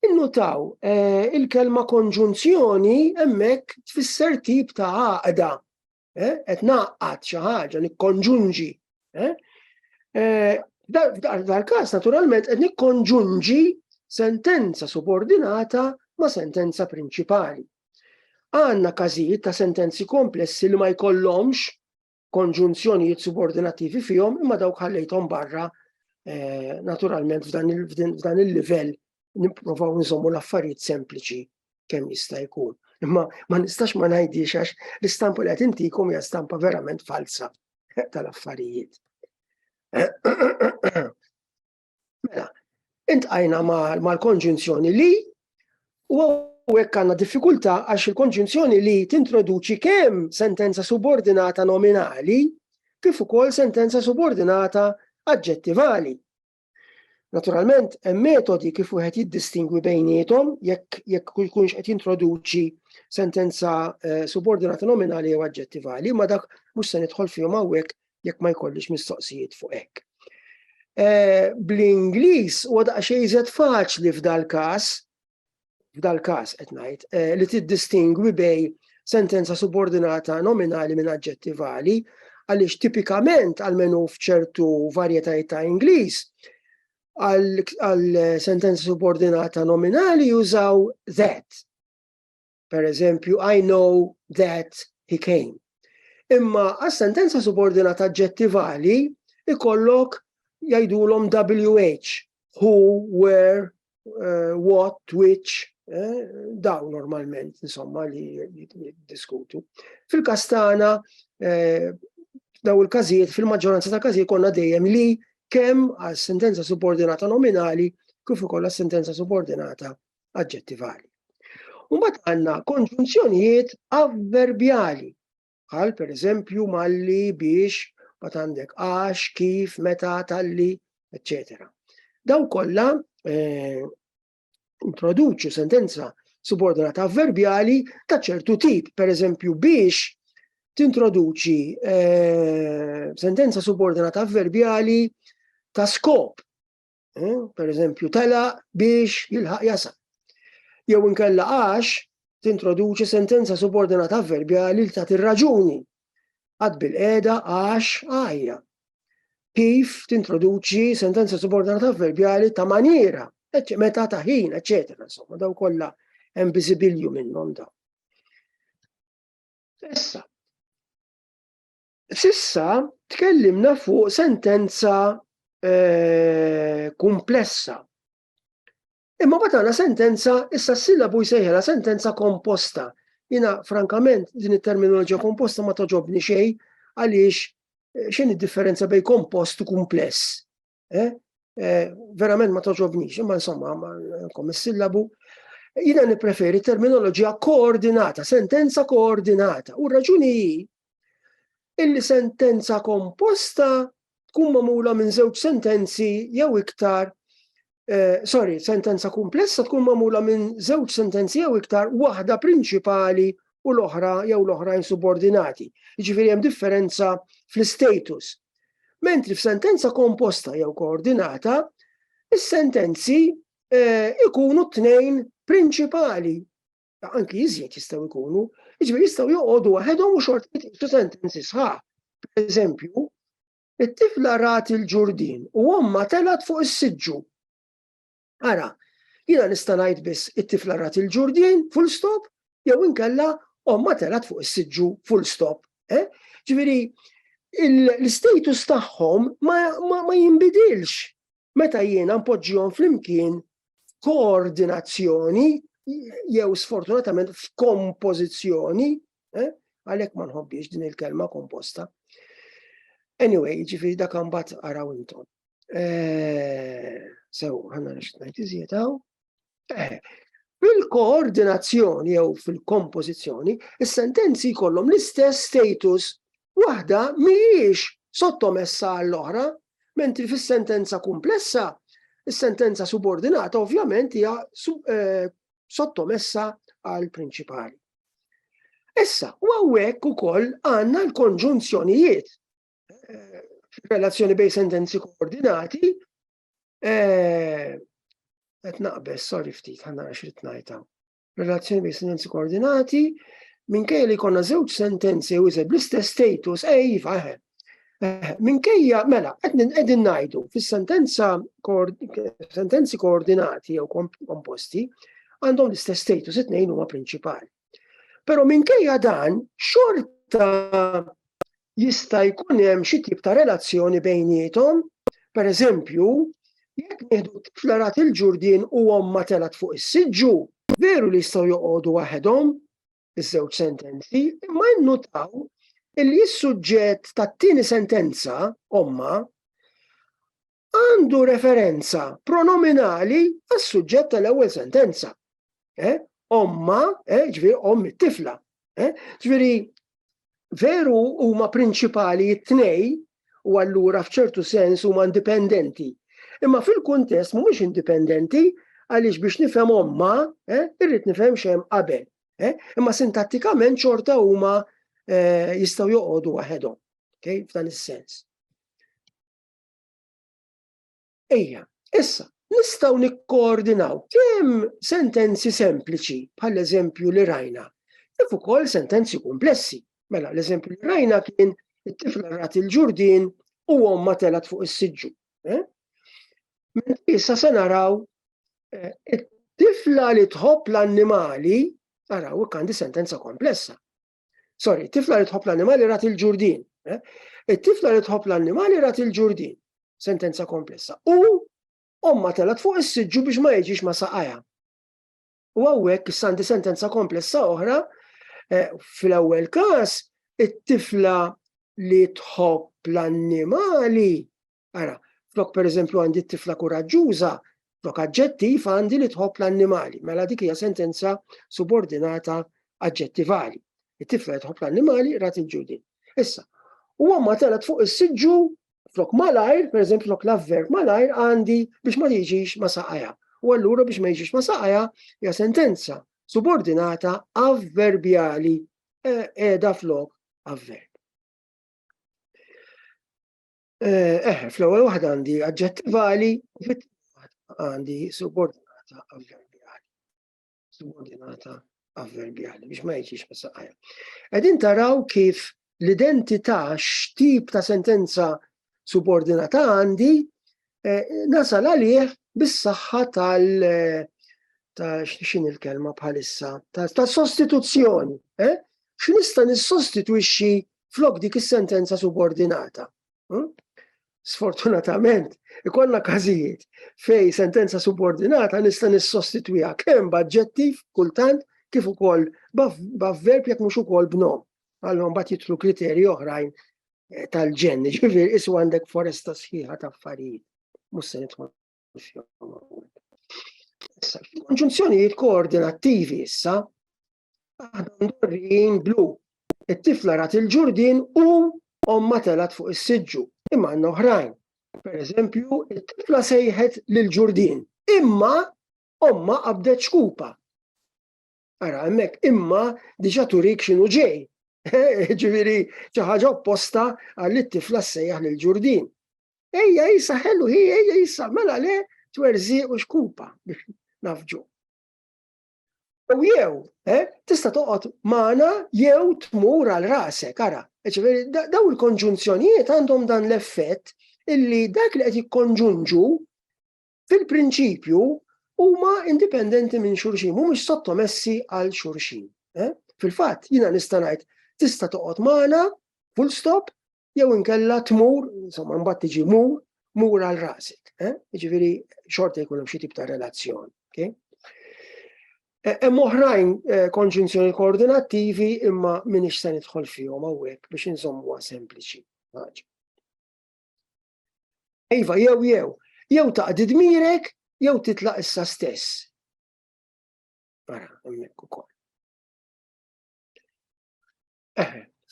Innutaw eh, il-kelma konġunzjoni hemmhekk tfisser tip ta' għaqda. Qed naqqat xi ħaġa nikkonġunġi. Dal-każ naturalment qed nikkonġunġi sentenza subordinata ma' sentenza prinċipali. Għandna każijiet ta' sentenzi komplessi li ma jkollhomx konġunzjonijiet subordinattivi fihom imma dawk ħallejthom barra eh, naturalment f'dan il-livell nipprovaw nżommu l-affarijiet sempliċi kemm jista' jkun. Imma ma nistax ma ngħidix għax l-istampa li qed intikom hija stampa verament falsa tal-affarijiet. Mela, intqajna mal-konġunzjoni li u hekk għandna diffikultà għax il-konġunzjoni li tintroduċi kemm sentenza subordinata nominali kif ukoll sentenza subordinata aġġettivali. Naturalment, hemm metodi kif wieħed jiddistingwi bejnietom jekk jekk jkunx qed jintroduċi sentenza eh, subordinata nominali jew aġġettivali, ma dak mhux se nidħol fihom hawnhekk jekk ma jkollix mistoqsijiet fuq hekk. Eh, Bl-Ingliż huwa daqsxejn iżjed faċli f'dal-każ, f'dal-każ qed ngħid, eh, li tiddistingwi bej sentenza subordinata nominali minn aġġettivali, għaliex tipikament għalmenu f'ċertu varjetajiet ta' Ingliż, għal sentenza subordinata nominali jużaw that Per eżempju, I know that he came. Imma għas-sentenza subordinata ġettivali ikollok jgħidulhom WH, who, where, uh, what, which, eh, daw normalment, insomma, li diskutu. Fil-kastana, eh, daw il-kazijiet, fil-maġġoranza ta' kazijiet konna dejjem li kemm għal sentenza subordinata nominali kif ukoll sentenza subordinata aġġettivali. U mbagħad għandna konġunzjonijiet avverbjali, bħal pereżempju malli biex ma għandek għax, kif, meta, talli, eccetera. Daw kollha eh, introduċu sentenza subordinata avverbjali ta' ċertu tip, per eżempju biex tintroduċi eh, sentenza subordinata avverbjali ta' skop, eh, per eżempju, tela biex jilħaq jasal. Jew inkella għax tintroduċi sentenza subordinata avverbjali li tagħti raġuni għad bil-qeda għax għajja. Kif tintroduċi sentenza subordinata avverbjali ta' maniera, meta ta' ħin, eccetera, insomma, daw kollha hemm biżibilju minnhom daw. Issa, Sissa tkellimna fuq sentenza eh, kumplessa. Imma batana sentenza, issa s-sillabu jsejħela sentenza komposta. Jina, frankament, din it-terminoloġija komposta ma toġobni xej għaliex eh, xejn id-differenza bej kompost u kumpless. Eh? Eh, verament ma toġobnix, imma insomma, nkom is-sillabu. Jina nipreferi terminoloġija koordinata, sentenza koordinata. U raġuni illi sentenza komposta tkun mamula minn żewġ sentenzi jew iktar Eh, sorry, sentenza kumplessa tkun mamula minn żewġ sentenzi jew iktar waħda prinċipali u l-oħra jew l-oħrajn subordinati. Jiġifieri hemm differenza fl-status Mentri f'sentenza komposta jew koordinata, is-sentenzi eh, ikunu tnejn prinċipali anki iżjed jistgħu jkunu, jiġifieri jistgħu joqogħdu waħedhom u xort jitqisu sentenzi sħaħ. Per eżempju, it-tifla rat il-ġurdin u omma telat fuq is-siġġu. Ara, jiena nista' ngħid biss it-tifla rat il-ġurdien, full stop, jew inkella omma telat fuq is-siġġu, full stop. Eh? Ġifieri, l-status tagħhom ma jinbidilx meta jiena npoġġihom flimkien koordinazzjoni jew sfortunatament f'kompożizzjoni, eh? għalhekk ma nħobbiex din il-kelma komposta. Anyway, ġifieri dak imbagħad araw intom. Eh, sew, għanna nixtnajt iżjed għaw. Eh, fil-koordinazzjoni jew fil-kompożizzjoni, is-sentenzi jkollhom l-istess status waħda mhijiex sottomessa għall-oħra, mentri fis-sentenza komplessa, is-sentenza subordinata ovvjament hija eh, sottomessa għal prinċipali. Issa, u għawek u koll għanna l-konġunzjonijiet eh, relazzjoni bej sentenzi koordinati, eh, qed naqbes, sorry ftit, ħanna għax rid ngħidha. Relazzjoni bej sentenzi koordinati, minkejja li konna żewġ sentenzi u iżed bl-istess status, ej, faħe. Eh, minkejja, mela, qegħdin ngħidu fis-sentenza sentenzi koordinati jew komposti għandhom l-istess status it-tnejn huma prinċipali. Però minkejja dan, xorta jista' jkun hemm xi tip ta' relazzjoni bejniethom, per eżempju, jekk nieħdu tifla rat il-ġurdien u omma telat fuq is-siġġu, veru li jistgħu joqogħdu waħedhom iż-żewġ sentenzi, imma nnutaw li s-suġġett tat-tieni sentenza, omma, għandu referenza pronominali għas-suġġett tal-ewwel sentenza. Eh? Omma, eh? ġviri, om it-tifla. Eh? Ġviri, veru huma prinċipali it-tnej u allura f'ċertu sens huma indipendenti. Imma fil-kuntest mhumiex indipendenti għaliex biex nifhem omma, eh, irrid nifhem xem qabel. Eh, imma sintattikament xorta huma eh, jistgħu joqogħdu waħedhom. Okay, f'dan is-sens. Ejja, issa, nistaw nikkoordinaw kemm sentenzi sempliċi, bħal eżempju li rajna, kif ukoll sentenzi komplessi. Mela, l-eżempju li rajna kien it-tifla rat il-ġurdin u omma telat fuq is-siġġu. Eh? Issa se naraw eh, it-tifla li tħobb l-annimali, naraw għandi sentenza komplessa. Sorry, tifla li tħobb l-annimali rat il-ġurdin. Eh? It-tifla li tħobb l-annimali rat il-ġurdin. Sentenza komplessa. U omma telat fuq is-siġġu biex ma jiġix ma saqaja. U għawek sandi sentenza komplessa oħra eh, fil-ewwel każ it-tifla li tħobb l-annimali Ara, flok pereżempju għandi t-tifla kuraġġuża, flok aġġettiv għandi li tħobb l-annimali, mela dik hija sentenza subordinata aġġettivali. It-tifla tħobb l-annimali rat il-ġudin. Issa, u għamma telet fuq is-siġġu flok malajr, per eżempju flok l-avverb malajr għandi biex ma jiġix ma saqaja. U allura biex ma jiġix ma saqaja hija sentenza subordinata avverbjali qiegħda eh, flok avverb. Eh, fl-ewwel waħda għandi aġġettivali, fit għandi subordinata avverbjali. Subordinata avverbjali biex ma jiġix messaqajja. Qegħdin taraw kif l-identità x'tip ta' sentenza subordinata għandi eh, nasal għalih bis-saħħa tal- eh, ta' xin il-kelma bħalissa, ta' sostituzzjoni. Eh? X'nista' nissostitwixxi flok dik is-sentenza subordinata. Hm? Sfortunatament, ikollna każijiet fej sentenza subordinata nista' nissostitwiha kemm b'aġġettiv kultant kif ukoll b'avverb jekk mhux ukoll b'nom. Allora mbagħad jitlu kriterji oħrajn eh, tal-ġen, ġifier isu għandek foresta sħiħa ta' affarijiet. Mhux se nidħol Konġunzjonijiet koordinattivi issa, Aħna mdorrijin blu. It-tifla rat il-ġurdin u omma telat fuq is-siġġu. Imma għandna oħrajn. Per eżempju, it-tifla sejħet lil ġurdin. Imma omma qabdet xkupa. Ara, hemmhekk imma diġà turik x'inhu ġej. Ġifieri xi ħaġa opposta għal it-tifla sejjaħ lil ġurdin. Ejja jisa ħellu hi, ejja jisa mela le twerżi u xkupa biex nafġu. U jew, eh, tista' toqgħod magħna jew tmur għal rasek, ara. Ġifieri daw il-konġunzjonijiet għandhom dan l-effett illi dak li qed jikkonġunġu fil-prinċipju huma indipendenti minn xulxin, mhumiex sottomessi għal xulxin. Eh? Fil-fatt, jiena nista' ngħid tista' toqgħod magħna full stop jew inkella tmur, insomma, mbagħad tiġi mur, mur għal rasek. Eh? Ġifieri xorta jkun hemm xi tip ta' relazzjoni. Okay? E, hemm oħrajn e, konġunzjoni koordinattivi imma minix se nidħol fihom hawnhekk biex insommuha sempliċi. Iva, jew jew, jew taqdi dmirek jew titlaq issa stess. Ara, hemmhekk ukoll.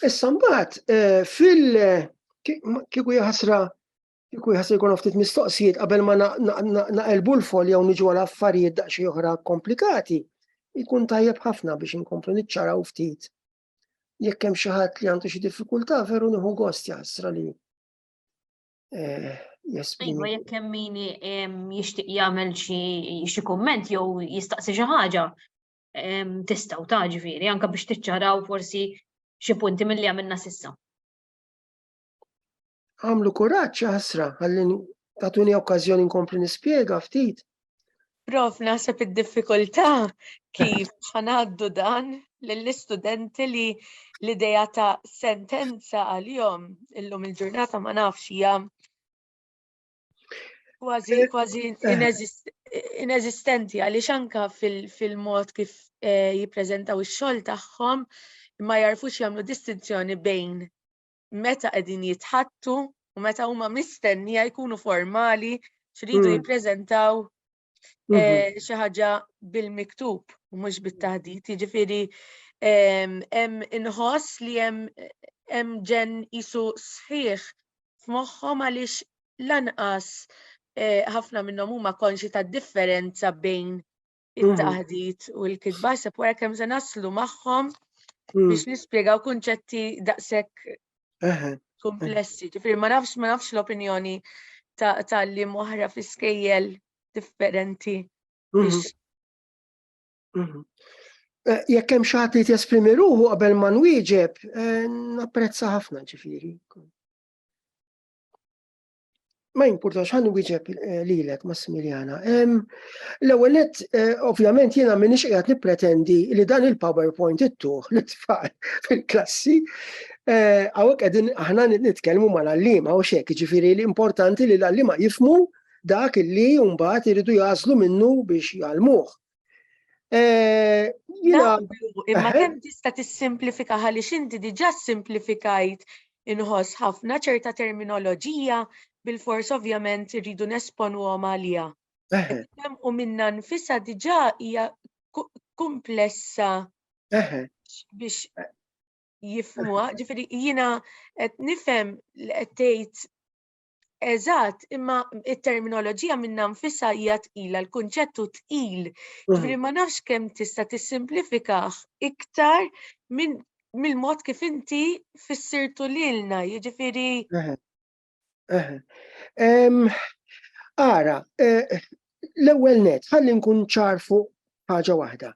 Issa mbagħad eh, fil kieku jħasra kieku jħasra jkun ftit mistoqsijiet qabel ma naqelbu l-fol jew niġu għal affarijiet daqsxejn oħra komplikati, jkun tajjeb ħafna biex inkomplu niċċaraw ftit. Jekk hemm xi ħadd li għandu xi diffikultà veru nieħu gost jaħsra li eh, Iva, jekk hemm min jixtieq jagħmel xi kumment jew jistaqsi xi ħaġa, tistaw ta' ġviri, anka biex tiċċaraw forsi xi punti mill-li għamilna sissa. Għamlu kuraċ ħasra, għallin tatuni okkazjoni nkompli nispiega ftit. Prof, naħseb id-diffikultà kif ħanaddu dan lill-istudenti li l-ideja ta' sentenza għal-jom illum il-ġurnata ma nafx hija Kważi, eh, kważi eh. ineżistenti għaliex anka fil-mod kif eh, jippreżentaw ix-xogħol tagħhom ma jarfux jagħmlu distinzjoni bejn meta qegħdin jitħattu u meta huma mistennija jkunu formali xridu hmm. jippreżentaw Mhm. Eh, xi ħaġa bil-miktub u mhux bit-taħdit, jiġifieri hemm inħoss li hemm hemm ġen isu sħiħ f'moħħhom għaliex lanqas eh, ħafna minnhom huma konxi tad-differenza bejn mhm. it-taħdit u l-kitba, sepp wara kemm se naslu magħhom mhm. biex nispjegaw kunċetti daqshekk Komplessi, ġifiri ma nafx ma nafx l-opinjoni ta' li moħra fi skejjel differenti. Mhm. Mhm. Eh, jekk hemm xi ħadd li jesprimi ruħu qabel ma nwieġeb, eh, napprezza ħafna ġifieri. Ma jimpurtax ħan wieġeb eh, lilek Massimiljana. L-ewwel nett eh, ovvjament jiena m'iniex qiegħed nippretendi li dan il-PowerPoint ittuħ li tfal fil-klassi eh, hawnhekk qegħdin aħna nitkellmu mal-għalliema u xek, ġifieri l-importanti li l-għalliema jifmu dak li mbagħad iridu jażlu minnu biex jgħalmuh. Eh, Jina. Imma eh? kemm tista' tissimplifika ħalli xinti diġà simplifikajt inħoss ħafna ċerta terminoloġija bil-fors ovvjament irridu nesponu għom għalija. Eh. U minna nfisa diġà hija komplessa biex jifmuha, ġifieri jiena qed nifhem li qed tgħid Eżatt, imma it-terminoloġija minna nfissa hija tqila, l-kunċettu tqil. Mhm. Ġifieri ma nafx kemm tista' tissimplifikah iktar minn mill-mod kif inti fissirtu lilna, jiġifieri. Ara, eh, l-ewwel net, ħalli nkun ċar fuq ħaġa waħda.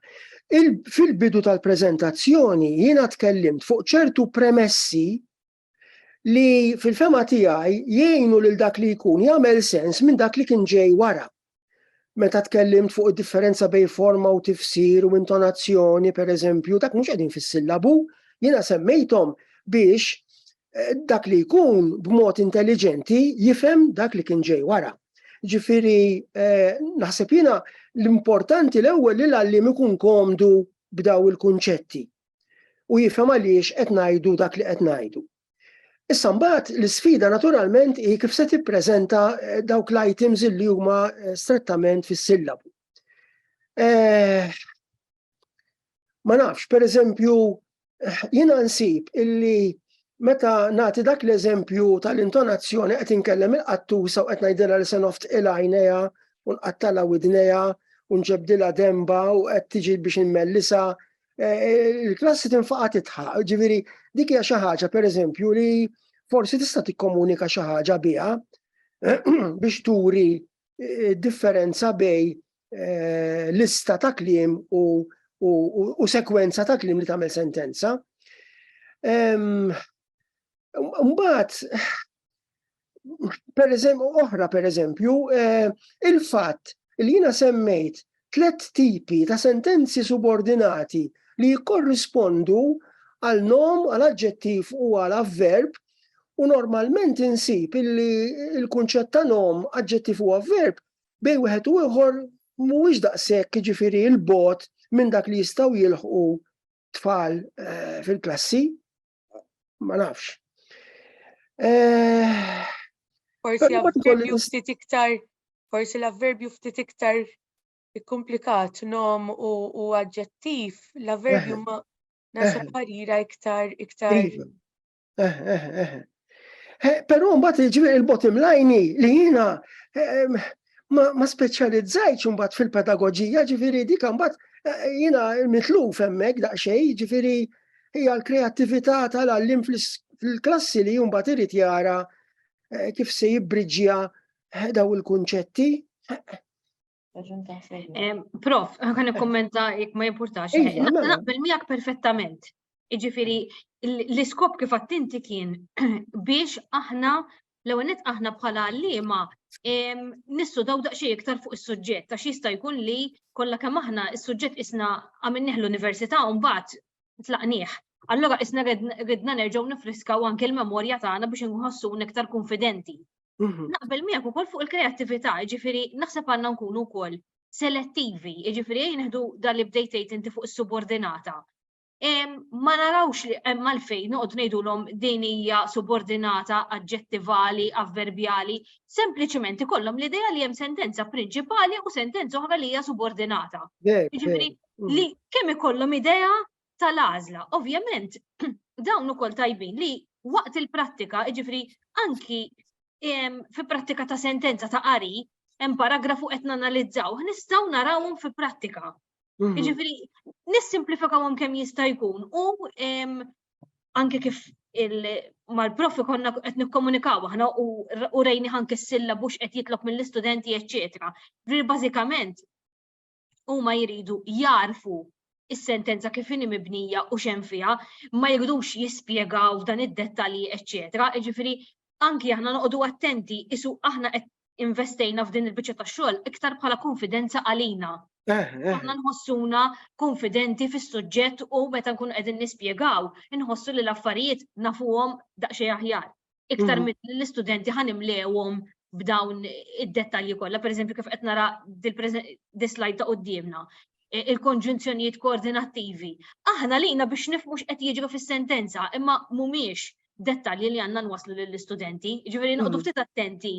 Fil-bidu tal-preżentazzjoni jiena tkellimt fuq ċertu premessi li fil-fema tiegħi jgħinu lil dak li jkun jagħmel sens minn dak li kien ġej wara. Meta tkellimt fuq id-differenza bejn forma u tifsir u intonazzjoni, per eżempju, dak mhux qegħdin fis-sillabu, jiena semmejthom biex eh, dak li jkun b'mod intelligenti jifhem dak li kien ġej wara. Ġifiri, eh, naħseb jiena l-importanti l-ewwel li l-għallim ikun komdu b'daw il-kunċetti u jifhem għaliex qed ngħidu dak li qed ngħidu. Issa mbagħad l-isfida naturalment hi kif se tippreżenta eh, dawk l-items li huma eh, strettament fis-sillabu. Eh, ma nafx, per eżempju, jiena nsib illi meta nagħti dak l-eżempju tal-intonazzjoni qed inkellem il-qattusa u qed ngħidilha li se noft il-għajnejha u nqattalha widnejha u nġebdilha demba u qed tiġi biex immellisa eh, il-klassi tinfaqa titħaq, ġiviri, dik hija xi ħaġa pereżempju li forsi tista' tikkomunika xi ħaġa biha biex turi eh, differenza bej eh, lista ta' kliem u, u, u sekwenza ta' kliem li tagħmel sentenza. Mbagħad per eżempju, oħra per eżempju, eh, il-fatt li jina semmejt tlet tipi ta' sentenzi subordinati li jikkorrispondu għal nom, għal aġġettiv u għal avverb u normalment insib illi il-kunċett ta' nom, aġġettiv u avverb bej wieħed u ieħor mhuwiex daqshekk jiġifieri l-bot minn dak li jistgħu jilħqu tfal eh, fil-klassi. ma nafx. Eh, forsi l-avverbju ftit iktar, forsi l-avverbju ftit iktar komplikat nom u aġġettiv, l-avverbju eh. ma nasa eh. parira iktar iktar. Però mbagħad il-bottom line li jiena ma, ma speċjalizzajtx imbagħad fil-pedagoġija, ġifieri dik imbagħad eh, jiena mitluf hemmhekk daqsxejn, ġifieri hija l-kreattività tal-għallim fil-klassi li mbagħad irid jara eh, kif se jibbriġġja eh, daw il-kunċetti. Prof, għan kommenta jek ma jimportax. Iva, mela. Naqbel miegħek perfettament. Jiġifieri l-iskop kif attinti kien biex aħna l-ewwel aħna bħala għalliema nissu daw daqsxejn iktar fuq is-suġġett għax jista' jkun li kollha kemm aħna is-suġġett isna għamilnih l-università u mbagħad tlaqnieh. Allora isna ridna nerġgħu nifriskaw anke l-memorja tagħna biex inħossu iktar konfidenti. Mhm. Naqbel miegħek ukoll fuq il-kreattività, ġifiri naħseb għandna nkunu wkoll selettivi, ġifiri jneħdu dan li bdejt inti fuq is-subordinata. ma narawx li hemm għalfejn noqgħod ngħidulhom din hija subordinata aġġettivali, avverbjali, sempliċement ikollhom l-idea li hemm sentenza prinċipali u sentenza oħra li hija subordinata. Jiġifieri mm. li kemm ikollhom idea tal-għażla. Ovvjament dawn ukoll tajbin li waqt il-prattika, jiġifieri anki fi prattika ta' sentenza ta' qari, hemm paragrafu qed nanalizzaw, nistgħu narawhom fi prattika. Mhm. Jiġifieri nissimplifikawhom kemm jista' jkun u anke kif mal-profi konna qed nikkomunikaw aħna u rejni ħanke s-silla bux qed jitlob mill-istudenti eċċetera. Ġifieri bażikament huma jridu jarfu is-sentenza kif inhi mibnija u xem fiha, ma jridux jispjegaw dan id-dettalji eċċetera. Ġifieri anki aħna noqogħdu attenti isu aħna qed investejna f'din il-biċċa ta' xogħol iktar bħala konfidenza għalina. Eh, eh. Aħna nħossuna konfidenti fis-suġġett u meta nkun qegħdin nispjegaw, inħossu li l-affarijiet nafuhom daqsxejn aħjar. Iktar mhm. minn l-istudenti ħanimlewhom b'dawn id-dettalji kollha, pereżempju kif qed nara dis-slide ta' qudiemna e, il-konġunzjonijiet koordinattivi. Aħna lina biex nifmux qed jiġru fis-sentenza, imma mhumiex dettalji li għandna nwasslu lill-istudenti, ġifieri noqogħdu hmm. ftit attenti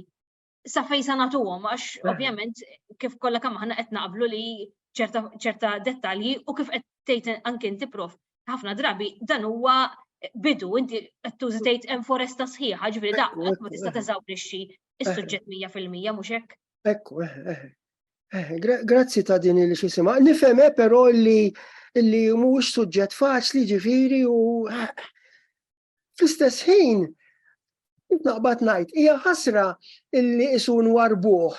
sa fejn sa nagħtuhom għax eh. ovvjament kif kollha kemm aħna qed naqblu li ċerta dettalji u kif qed tgħid anke inti prof ħafna drabi dan huwa bidu inti qed tużi tgħid hemm foresta sħiħa ġifieri daqqa ma tista' teżawrixxi is-suġġett 100% mhux hekk. Ekku, eh, eh, Eh, grazzi ta' din li xisima. Nifhem eh, però li li mhux suġġett faċli ġifiri u eh, fl-istess ħin naqbad ngħid hija ħasra illi isun warbuh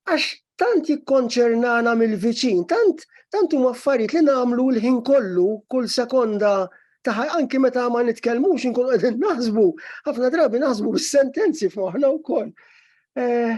għax tant jikkonċernana mill-viċin, tant tant huma affarijiet li nagħmlu l-ħin kollu kull sekonda taħ anki meta ma nitkellmux inkun qegħdin naħsbu, ħafna drabi naħsbu bis-sentenzi f'moħħna wkoll. Eh,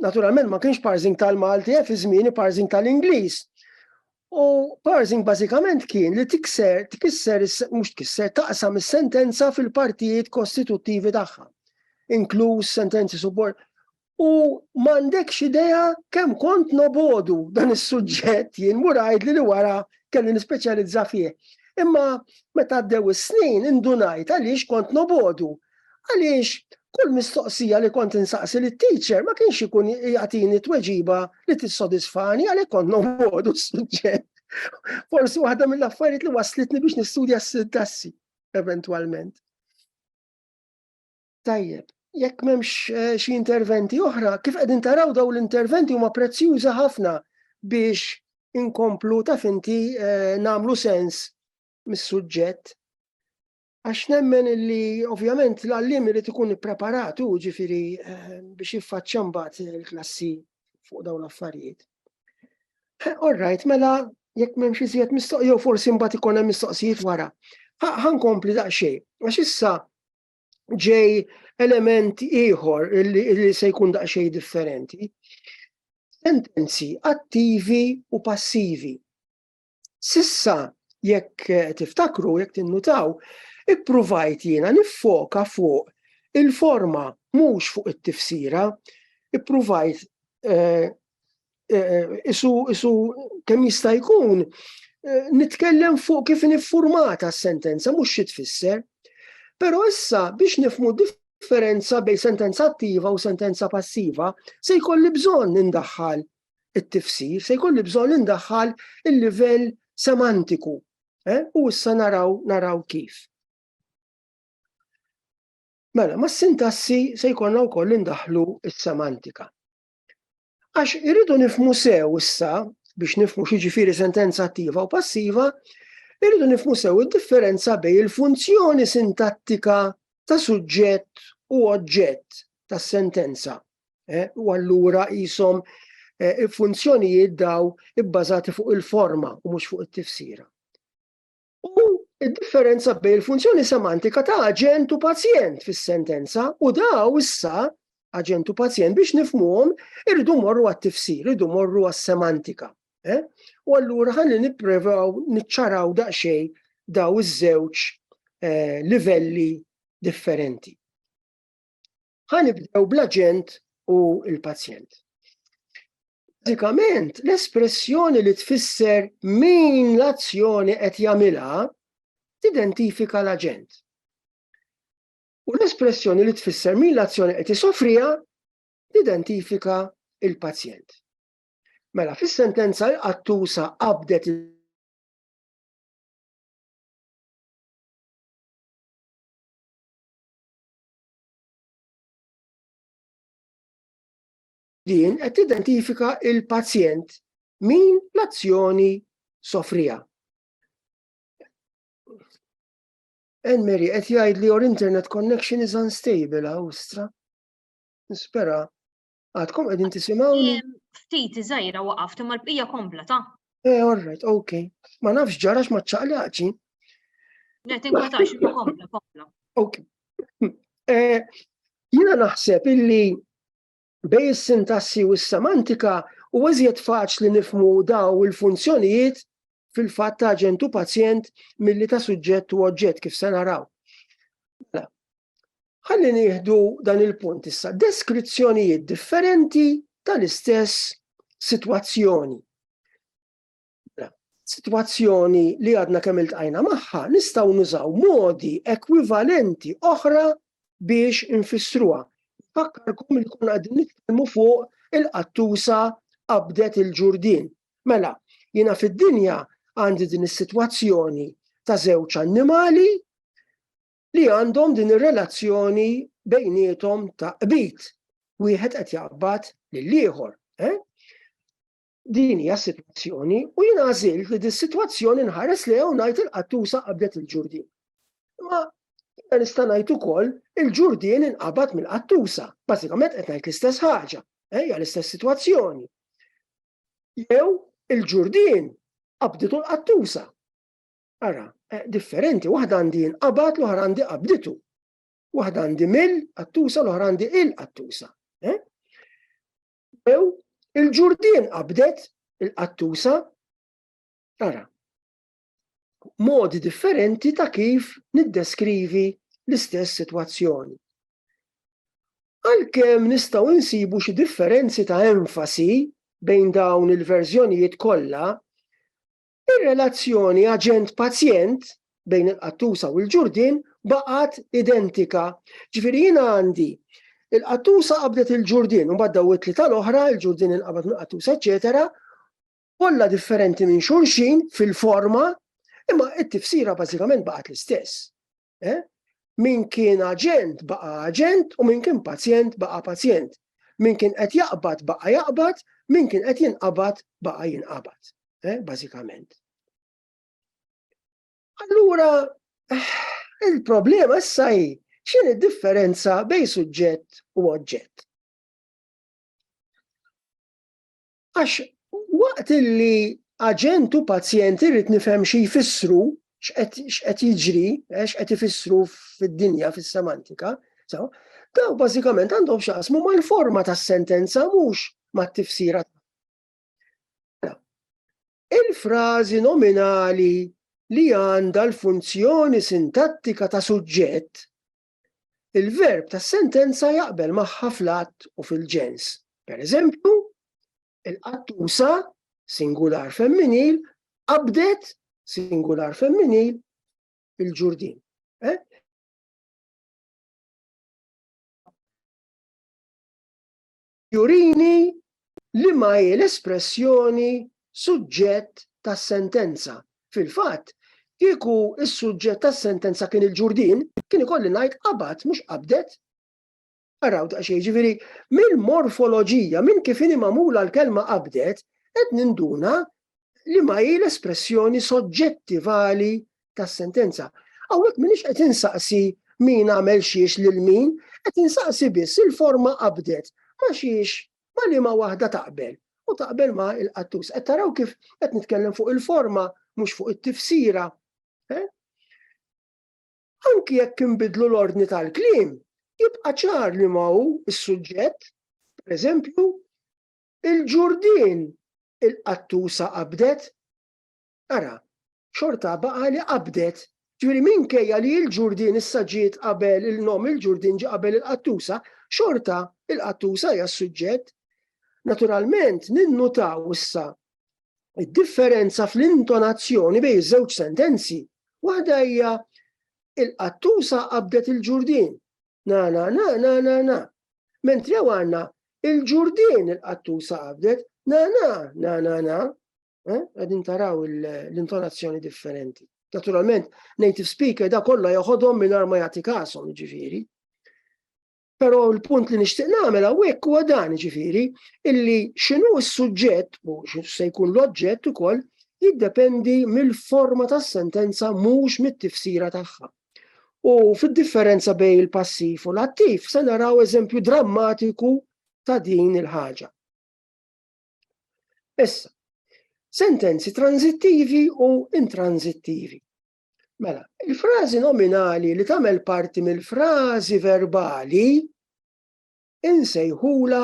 naturalment ma kienx parsing tal-Malti, eh, fi żmieni parsing tal-Ingliż. U parsing bażikament kien li tikser, tikisser, mhux tikisser, taqsam is-sentenza fil-partijiet kostituttivi tagħha, inkluż sentenzi subord. U m'għandekx idea kemm kont nobodu dan is-suġġett jien murajd li li wara kelli nispeċjalizza fih. Imma meta għaddew is-snin indunajt għaliex kont nobodu għaliex kull mistoqsija li kont insaqsi li teacher ma kienx ikun jagħtini tweġiba li tissodisfani għalhekk kont noqgħodu s-suġġett. Forsi waħda mill-affarijiet li waslitni biex nistudja s-sintassi eventwalment. Tajjeb, jekk m'hemmx eh, xi interventi oħra, kif qegħdin taraw daw l-interventi huma prezzjuża ħafna biex inkomplu ta' finti eh, namlu sens mis-suġġett. Għax nemmen li ovvjament l-għallim irid ikun ippreparat u ġifiri eh, biex jiffaċċja mbagħad il-klassi fuq dawn l-affarijiet. Eh, all right, mela jekk m'hemmx iżjed mistoq jew forsi mbagħad ikun hemm mistoqsijiet wara. Ħankompli daqsxejn, għax issa ġej element ieħor li se jkun daqsxejn differenti. Sentenzi attivi u passivi. Sissa jekk tiftakru, jekk tinnutaw, ippruvajt jiena niffoka fuq il-forma mhux fuq it-tifsira, ippruvajt eh, eh, isu isu kemm jista' jkun eh, nitkellem fuq kif niffurmata s-sentenza mhux xi tfisser. Però issa biex nifmu differenza bejn sentenza attiva u sentenza passiva se jkolli bżonn nindaħħal it-tifsir, se jkolli bżonn indaħħal il-livell semantiku. Eh? U issa naraw, naraw kif. Mela, ma sintassi se jkollna wkoll indaħlu s-semantika. Għax irridu nifmu sew issa biex nifmu xiġifieri sentenza attiva u passiva, irridu nifmu sew id-differenza bej il-funzjoni sintattika ta' suġġett u oġġett tas sentenza Eh, u allura jisom eh, funzjonijiet daw ibbażati fuq il-forma u mhux fuq it-tifsira. U id-differenza bejn il-funzjoni semantika ta' aġent u pazjent fis-sentenza u daw issa aġent u pazjent biex nifmuhom irridu morru għat-tifsir, irridu morru għas-semantika. Eh? U allura ħalli nipprevaw niċċaraw daqsxejn daw iż-żewġ livelli differenti. Ħa nibdew bl-aġent u l-pazjent. Bażikament, l-espressjoni li tfisser min l-azzjoni qed jagħmilha tidentifika l-aġent. U l-espressjoni li tfisser min l-azzjoni qed isofrija tidentifika il-pazjent. Mela, fis-sentenza l-qattusa qabdet Din qed tidentifika l-pazjent minn l-azzjoni sofriha. Enmeri qed jgħid li your internet connection is unstable Awstra. Nispera Għadkom qegħdin tisimgħuni? Ftit iżgħira waqaft imma l-bqija kompla ta'. Eh, all right, okay. Ma nafx ġarax ma ċaqlaqċi. Le, tinkwetax, kompla, kompla. Ok. Eh, jina naħseb illi bej is-sintassi u s-semantika u eżjed faċli nifmu daw il-funzjonijiet fil-fatt ta' ġentu pazjent milli ta' suġġett u oġġett kif se naraw. Mela, Ħalli nieħdu dan il-punt issa, deskrizzjonijiet differenti tal-istess sitwazzjoni. Sitwazzjoni li għadna kemm iltqajna magħha nistgħu nużaw modi ekwivalenti oħra biex infissruha. Fakkarkom li kun għadin nitkellmu fuq il-qattusa qabdet il-ġurdin. Mela, jina fid-dinja għandi din is-sitwazzjoni ta' żewġ annimali li għandhom din ir-relazzjoni bejniethom ta' qbid. Wieħed qed jaqbad lill-ieħor. Eh? Din hija s-sitwazzjoni u jien għażilt li dis-sitwazzjoni nħares li hawn ngħid il-qattusa qabdet il-ġurdin. Ma jiena nista' ngħid ukoll il-ġurdin inqabad mill-qattusa. Bażikament qed ngħid l-istess ħaġa, eh, hija l-istess sitwazzjoni. Jew il-ġurdin qabditu l-qattusa. Ara, eh, differenti, waħda għandi inqabad l-oħra għandi qabditu. Waħda għandi mill qattusa l-oħra għandi il-qattusa. Eh? Ew, il-ġurdien qabdet il-qattusa. Ara, modi differenti ta' kif niddeskrivi l-istess situazzjoni. Għalkemm nistgħu insibu xi differenzi ta' enfasi bejn dawn il-verżjonijiet kollha, Ir-relazzjoni aġent-pazjent bejn il-qattusa u l-ġurdien baqgħet identika. Ġifieri jiena għandi il-qattusa qabdet il-ġurdien, u daw it-tlieta tal-oħra, il-ġurdien inqabad minn qattusa, eċetera, kollha differenti minn xulxin fil-forma, imma it-tifsira bażikament baqgħet l-istess. Eh? Min kien aġent baqa aġent u min kien pazjent baqa pazjent. Min kien qed jaqbad baqa jaqbad, min kien qed jinqabad baqa jinqabad. Eh? Bażikament. Allura, eh, il-problema issa hi x'in id-differenza bejn suġġett u oġġett. Għax waqt li aġent u pazjent irrid nifhem xi jfissru, x'qed jiġri, eh, x'qed ifissru fid-dinja, fis-semantika, so, daw bażikament għandhom xaqsmu mal-forma tas-sentenza mhux mat-tifsira. Il-frażi nominali li għandha l-funzjoni sintattika ta' suġġett il-verb tas-sentenza jaqbel magħha fl-għadd u fil-ġens. Pereżempju, il-qattusa, singular femminil, qabdet, singular femminil, il-ġurdin. Eh? jurini li ma hi l-espressjoni suġġett tas-sentenza. Fil-fatt, kieku s-suġġett tas-sentenza kien il-ġurdin, kien ikolli ngħid qabad mhux qabdet. Araw daqsxejn jiġifieri mill-morfoloġija minn kif inhi magħmula l-kelma qabdet qed ninduna li ma hi l-espressjoni soġġettivali tas-sentenza. Hawnhekk m'iniex qed insaqsi min għamel xiex lil min, qed insaqsi biss il-forma qabdet ma' xiex ma' liema waħda taqbel u taqbel ma' il-qattus. Qed taraw kif qed nitkellem fuq il-forma mhux fuq it-tifsira. Eh? Anki jekk inbidlu l-ordni tal-kliem, jibqa' ċar li ma hu s-suġġett, pereżempju, il-ġurdin il-qattusa qabdet Ara, xorta baqa' li qabdet. Ġifieri minkejja li l-Ġurdien issa ġiet qabel il-nom il-Ġurdien ġie qabel il-qattusa, xorta il-qattusa hija s-suġġett. Naturalment ninnutaw issa id-differenza fl-intonazzjoni bejn iż-żewġ sentenzi. Waħda hija il-qattusa qabdet il-Ġurdien. Na na na na na na. Mentri għandna il-Ġurdien il-qattusa qabdet na na na na na. Eh? Għedin taraw l-intonazzjoni differenti. Naturalment, native speaker da kollha joħodhom mingħajr ma jagħti kasom, ġifieri. Però l-punt li nixtieq nagħmel hawnhekk huwa dan ġifieri illi x'inhu s-suġġett u se jkun l-oġġett ukoll jiddependi mill-forma tas-sentenza mhux mit-tifsira tagħha. U fid-differenza bejn il-passiv u l-attiv se naraw eżempju drammatiku ta' din il-ħaġa. Issa, sentenzi tranzittivi u intranzittivi. Mela, il-frażi nominali li tagħmel parti mill-frażi verbali insejħula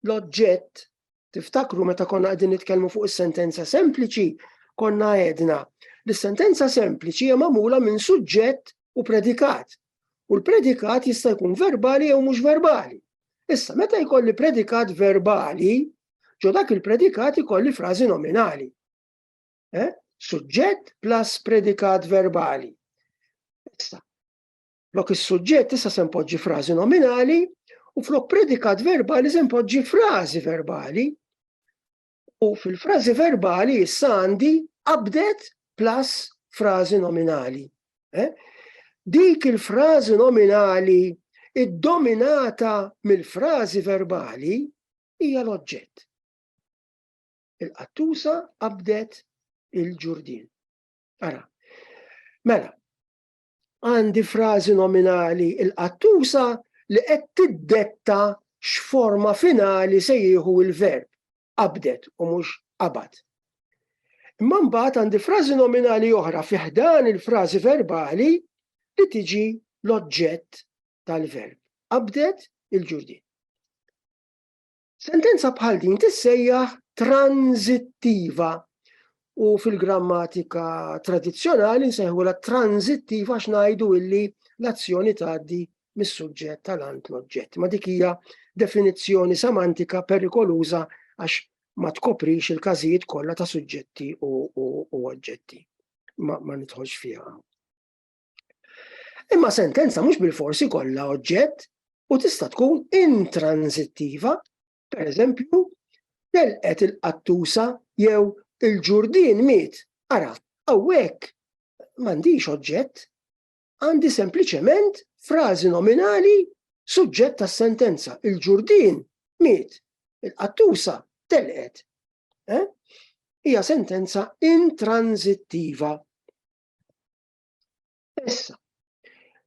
l-oġġett. Tiftakru meta konna qegħdin nitkellmu fuq is-sentenza sempliċi, konna għedna li s-sentenza sempliċi hija magħmula minn suġġett u predikat. U l-predikat jista' jkun verbali jew mhux verbali. Issa, meta jkolli predikat verbali, ġo dak il-predikat ikolli frażi nominali. Eh? Suġġett plus predikat verbali. Issa, flok is-suġġett issa se npoġġi frażi nominali u flok predikat verbali se npoġġi frażi verbali. U fil-frażi verbali issa għandi qabdet plus frażi nominali. Eh? Dik il-frażi nominali id-dominata mill-frażi verbali hija l-oġġett. Il-qattusa qabdet il-ġurdin. Ara, mela, għandi frażi nominali il-qattusa li qed tiddetta x'forma finali se jieħu l-verb qabdet u mhux qabad. Imma mbagħad għandi frażi nominali oħra fi ħdan il-frażi verbali li tiġi l-oġġett tal-verb. Qabdet il-ġurdin. Sentenza bħal din tissejjaħ tranzittiva u fil-grammatika tradizzjonali nsejħu la tranzittiva għax ngħidu illi l-azzjoni tgħaddi mis-suġġett tal-ant l-oġġett. Ma dik hija definizzjoni semantika perikoluża għax ma tkoprix il-każijiet kollha ta' suġġetti u, u, u oġġetti. Ma, ma nidħolx fiha. Imma sentenza mhux bil-forsi kollha oġġett u tista' tkun intransittiva, per eżempju, telqet il-qattusa jew il-ġurdien miet. Ara, hawnhekk m'għandix oġġett, għandi sempliċement frażi nominali suġġett tas-sentenza. Il-ġurdien miet, il-qattusa telqet. Eh? Hija sentenza intransittiva. Issa,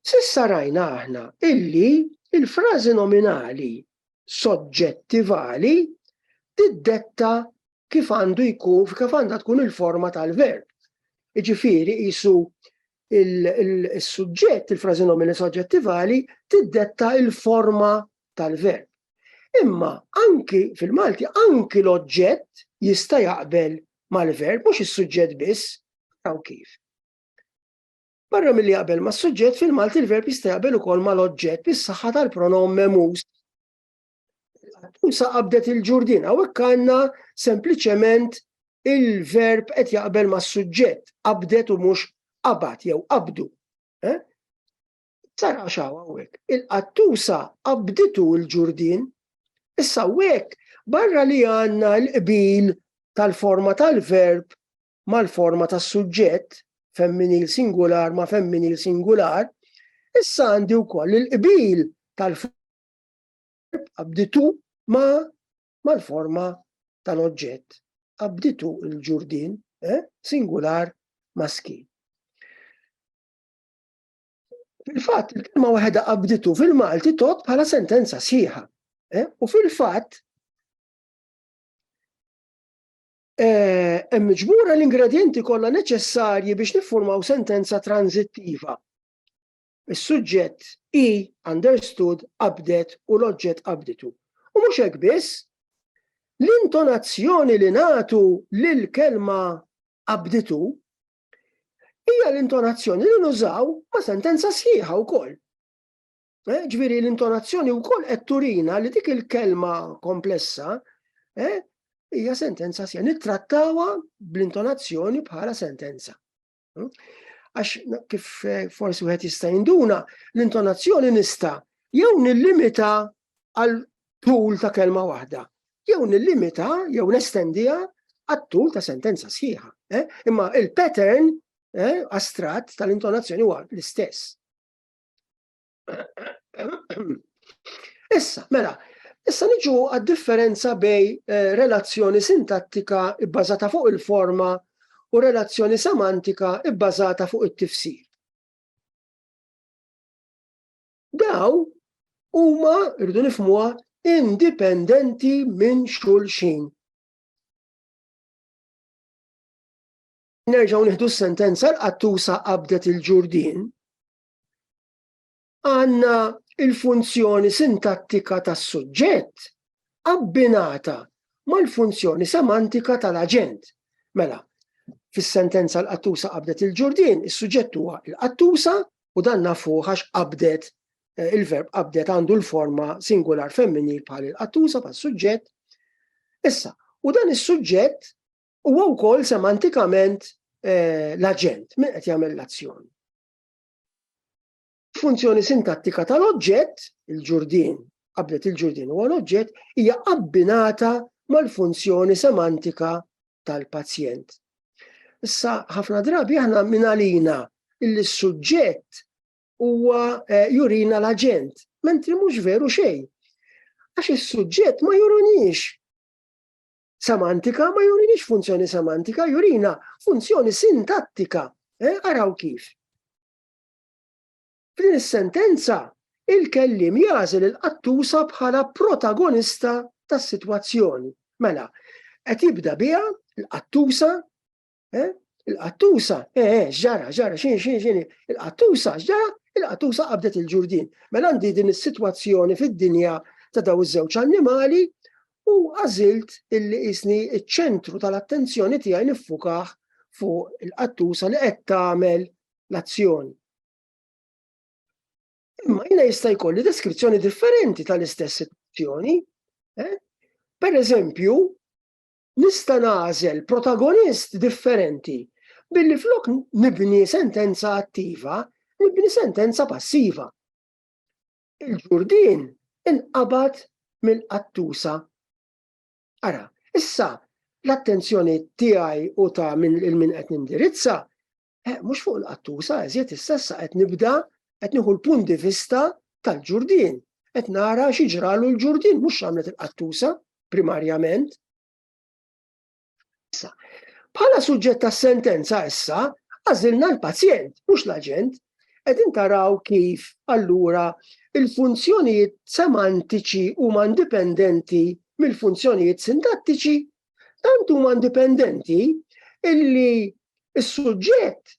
sissa rajna aħna illi il-frażi nominali soġġettivali tiddetta kif għandu jkun, kif għandha tkun il-forma tal-verb. Iġifiri, jisu il-sujġett, il-frazi nomina soġġettivali, tiddetta il-forma tal-verb. Imma anki fil-Malti, anki l-oġġett jista' jaqbel mal-verb, mhux is-suġġett biss, taw kif. Barra milli jaqbel ma' suġġett fil-Malti l-verb jista' jaqbel ukoll mal-oġġett bis-saħħa tal-pronom memus. Tusa qabdet il-ġurdin, hawnhekk għandna sempliċement il-verb qed jaqbel ma' suġġett, qabdet u mhux qabad jew qabdu. Eh? Sar għaxaw hawnhekk. Il-qattusa qabditu l-ġurdin, issa hawnhekk barra li għandna l-qbil tal-forma tal-verb mal-forma tas-suġġett, femminil singular ma' femminil singular, issa għandi wkoll il-qbil tal-verb abditu ma' mal-forma tal-oġġett. Abditu il-ġurdin, eh? singular maskil. Fil-fatt, il-kelma waħda qabditu fil-Malti tot bħala sentenza sħiħa. Eh? U fil-fatt, Hemm miġbura l-ingredjenti kollha neċessarji biex niffurmaw sentenza tranżittiva. Is-suġġett hi understood, qabdet u l-oġġett qabditu. U mhux hekk biss, l-intonazzjoni li nagħtu lill-kelma qabditu hija l-intonazzjoni li nużaw ma' sentenza sħiħa wkoll. Eh, ġviri l-intonazzjoni u koll qed turina li dik il-kelma komplessa eh, hija sentenza sija. Nittrattawa bl-intonazzjoni bħala sentenza. Hmm? Għax kif eh, forsi wieħed jista' jinduna, l-intonazzjoni nista' jew nillimita għal tul ta' kelma waħda, jew nillimita jew nestendija għal tul ta' sentenza sħiħa. Imma il-pattern astrat tal-intonazzjoni huwa l-istess. Issa, mela, issa niġu għad-differenza bej eh, relazzjoni sintattika ibbażata fuq il-forma u relazzjoni semantika ibbażata fuq it-tifsir. Daw huma rridu nifmuha indipendenti minn xulxin. Nerġgħu nieħdu s-sentenza l-qattusa qabdet il-ġurdien. Għandna il-funzjoni sintattika tas-suġġett abbinata mal-funzjoni semantika tal-aġent. Mela, fis-sentenza l-qattusa qabdet il-ġurdien, is-suġġett huwa l-qattusa u dan nafu għax qabdet eh, il-verb qabdet għandu l-forma singular femminil bħal il-qattusa bħal suġġett. Issa, u dan is-suġġett Huwa wkoll semantikament eh, l-aġent min qed jagħmel l-azzjoni. Funzjoni sintattika tal-oġġett, il-ġurdin, qablet il-ġurdin huwa l-oġġett, hija abbinata mal-funzjoni semantika tal-pazjent. Issa ħafna drabi aħna minalina illi s-suġġett huwa eh, jurina l-aġent, mentri mhux veru xejn. Għax is-suġġett ma jurinix semantika ma jurinix funzjoni semantika, jurina funzjoni sintattika. Eh, araw kif. F'din is-sentenza, il-kellim jażel il-qattusa bħala protagonista tas-sitwazzjoni. Mela, qed jibda biha l-qattusa Eh? Il-qattusa, eh, eh, ġara, ġara, xin, xin, xin, il-qattusa, ġara, il-qattusa qabdet il-ġurdin. Mela għandi din is-sitwazzjoni fid-dinja ta' daw iż-żewġ annimali u għażilt illi isni iċ-ċentru tal-attenzjoni tiegħi niffukaħ fuq il-qattusa li qed tagħmel l-azzjoni. Imma jina jista' jkolli deskrizzjoni differenti tal-istess sitwazzjoni. Eh? Per eżempju, Nista' nagħżel protagonist differenti billi flok nibni sentenza attiva, nibni sentenza passiva. Il-ġurdien inqabad mill-qattusa. Ara, issa l-attenzjoni tiegħi u ta' minn il-min qed nindirizza Eh, mhux fuq il-qattusa, eżjed is-sessa qed nibda qed nieħu l-punt di vista tal-ġurdin. Qed nara xi ġralu l-ġurdin mhux għamlet il-qattusa primarjament. Issa, bħala suġġett tas-sentenza issa għażilna l-pazjent, mhux l-aġent, qed intaraw kif allura il-funzjonijiet semantiċi huma indipendenti mill-funzjonijiet sintattiċi tant huma indipendenti illi s-suġġett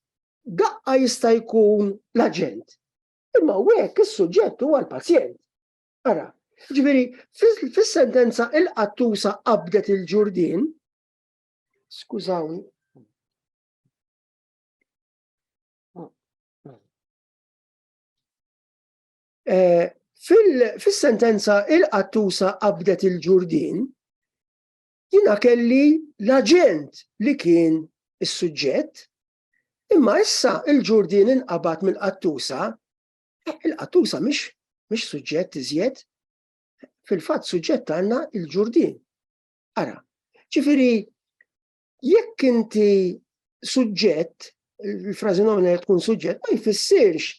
daqqa jista' jkun l-aġent. Imma hekk is-suġġett huwa l-pazjent. Ara, ġifieri fis-sentenza il-qattusa qabdet il-ġurdin, skużawni, Eh, fis-sentenza il-qattusa qabdet il-ġurdin, jina kelli l-aġent li kien is-suġġett, imma issa il-ġurdin inqabad mill-qattusa, eh, il-qattusa mhix mhix suġġett iżjed, fil-fatt suġġett għandna il-ġurdin. Ara, ġifiri, Jekk inti suġġett, il-frażi nomina li tkun suġġett, ma jfissirx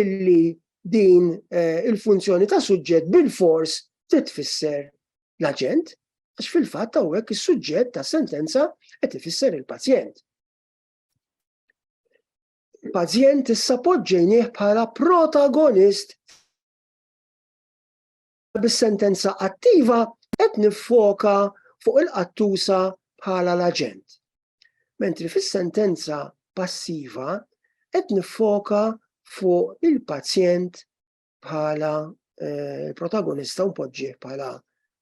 illi din eh, il-funzjoni ta' suġġett bil-fors titfisser l-aġent, għax fil-fatt hawnhekk is-suġġett ta' sentenza qed ifisser il-pazjent. Il-pazjent issa poġġejnieh bħala protagonist bis-sentenza attiva qed niffoka fuq il-qattusa bħala l-aġent. Mentri fis-sentenza passiva qed niffoka fuq il-pazjent bħala eh, protagonista u mpoġġih bħala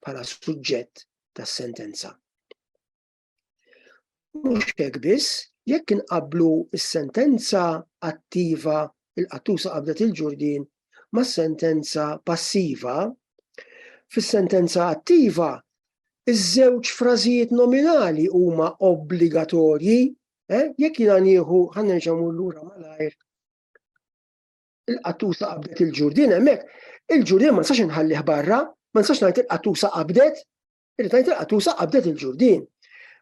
bħala suġġett tas-sentenza. Mhux hekk biss, jekk inqabblu s-sentenza attiva il-qattusa qabdet il-ġurdien mas-sentenza passiva, fis-sentenza attiva iż-żewġ frażijiet nominali huma obbligatorji, eh? jekk jiena nieħu ħa nerġa' lura malajr il-qattusa qabdet il-ġurdien hemmhekk, il-ġurdien ma nistax inħallih barra, ma nistax ngħid il-qattusa qabdet, Illi tajt il-qatusa qabdet il-ġurdin.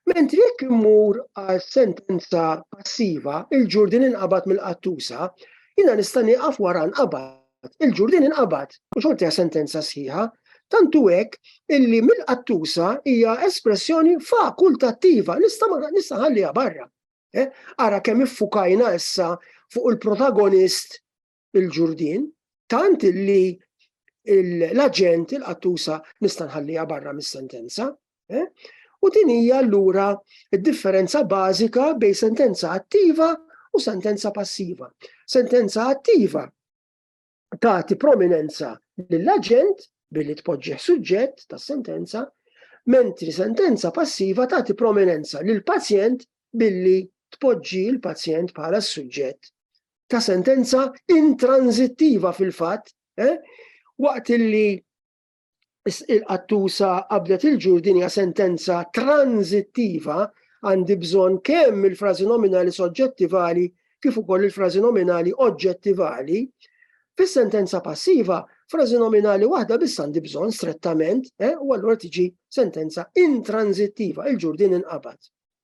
Mentri jekk immur għal sentenza passiva, il-ġurdin inqabad mill-qattusa, jina nista' nieqaf wara nqabad. Il-ġurdin inqabad u xorti sentenza sħiħa, tantu hekk illi mill-qattusa hija espressjoni fakultattiva, nista' nista' ħalliha barra. Eh? Ara kemm iffukajna issa fuq il-protagonist il-ġurdien, tant li l-aġent il-qattusa nista' nħallija barra mis-sentenza. Eh? U din hija allura d-differenza bażika bejn sentenza attiva u sentenza passiva. Sentenza attiva tagħti prominenza lill-aġent billi tpoġġeħ suġġett tas sentenza, mentri sentenza passiva tagħti prominenza lill pazjent billi tpoġġi l-pazjent bħala s-suġġett ta' sentenza intranzittiva fil-fatt, eh? waqt li il-qattusa qabdet il-ġur din hija sentenza tranzittiva għandi bżonn kemm il-frażi nominali soġġettivali kif ukoll il-frażi nominali oġġettivali, fis-sentenza passiva frażi nominali waħda biss għandi bżonn strettament eh, u allura tiġi sentenza intranzittiva il-ġurdin inqabad.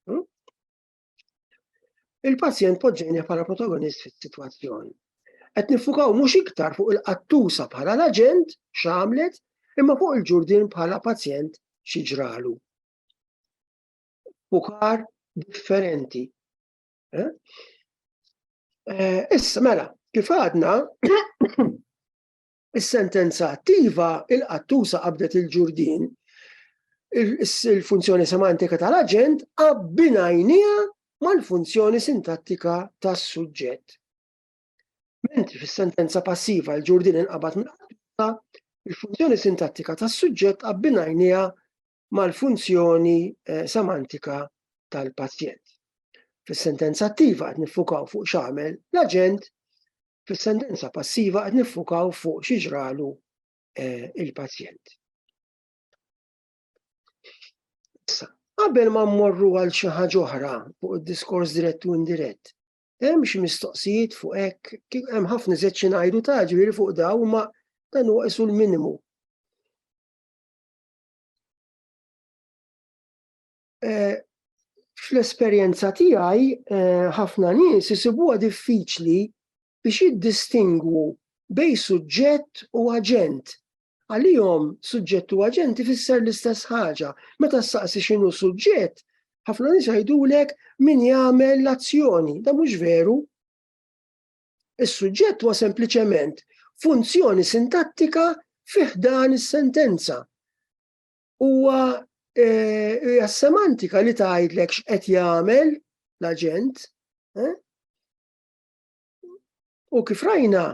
Hmm? Il-pazjent poġġejni bħala protagonist fis-sitwazzjoni. Qed nifukaw mhux iktar fuq il-qattusa bħala l-aġent x'għamlet, imma fuq il-ġurdin bħala pazjent xi ġralu. Fukar differenti. Eh? Eh, issa mela, kif għadna, Is-sentenza attiva, il-qattusa qabdet il-ġurdien, il-funzjoni semantika tal-aġent abbinajnija mal-funzjoni sintattika tas-suġġett. Mentri fis-sentenza passiva l-ġurdin inqabad mill-qattusa, il-funzjoni sintattika tas-suġġett abbinajnija mal-funzjoni semantika tal-pazjent. Fis-sentenza attiva qed niffukaw fuq x'għamel l-aġent, fis-sentenza passiva qed niffukaw fuq xi ġralu eh, il-pazjent. Issa, qabel ma mmorru għal xi ħaġa oħra fuq id-diskors dirett u indirett, hemm xi mistoqsijiet fuq hekk, kif hemm ħafna żed xi ngħidu ta' ġifieri fuq daw ma dan huwa isu l-minimu. Eh, fl-esperjenza tiegħi eh, ħafna nies isibuha diffiċli biex jiddistingwu bej suġġett u aġent. Għalihom suġġett u aġent ifisser l-istess ħaġa. Meta saqsi x'inhu suġġett, ħafna nies jgħidulek min jagħmel l-azzjoni. Da mhux veru. Is-suġġett huwa sempliċement funzjoni sintattika fi ħdan is-sentenza. Huwa eh, hija semantika li tgħidlek x'qed jagħmel l-aġent. Eh? U kif rajna,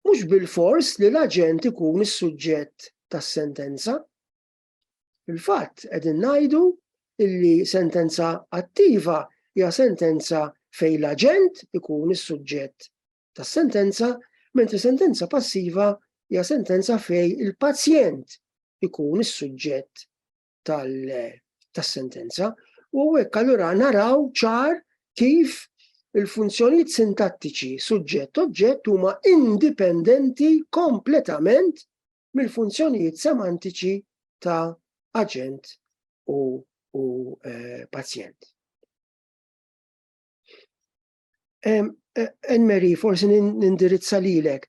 mhux bil-fors li l-aġent ikun is-suġġett tas-sentenza. Fil-fatt qegħdin ngħidu illi sentenza attiva hija sentenza fejn l-aġent ikun is-suġġett tas-sentenza, mentri sentenza passiva hija sentenza fejn il-pazjent ikun is-suġġett tas-sentenza. U hekk allura naraw ċar kif il-funzjonijiet sintattiċi suġġett oġġett huma indipendenti kompletament mill-funzjonijiet semantiċi ta' aġent u, u eh, pazjent. Enmeri, eh, forsi nindirizza lilek,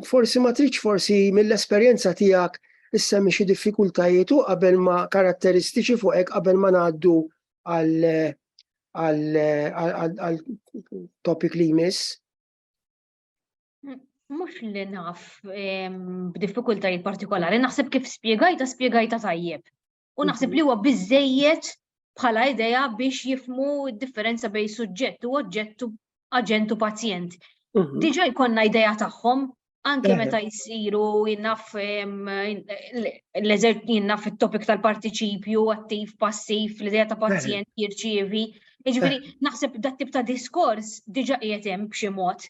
forsi ma tridx forsi mill-esperjenza tiegħek issemmi xi diffikultajiet u qabel ma karatteristiċi fuq hekk qabel ma ngħaddu għal għal topic li jmiss. Mux li naf b'diffikultajiet partikolari, naħseb kif spiegajta, spiegajta tajjeb. U naħseb mhm. li huwa biżejjed bħala idea biex jifmu differenza bej suġġett u oġġettu aġentu pazjent. Mhm. Diġa jkonna idea tagħhom anke meta jisiru jinnaf l-eżert jinnaf il-topik tal-partiċipju, attiv, passiv, l-idea ta' pazjent jirċievi. Iġveri, naħseb dat tip ta' diskors diġa qiegħed hemm b'xi mod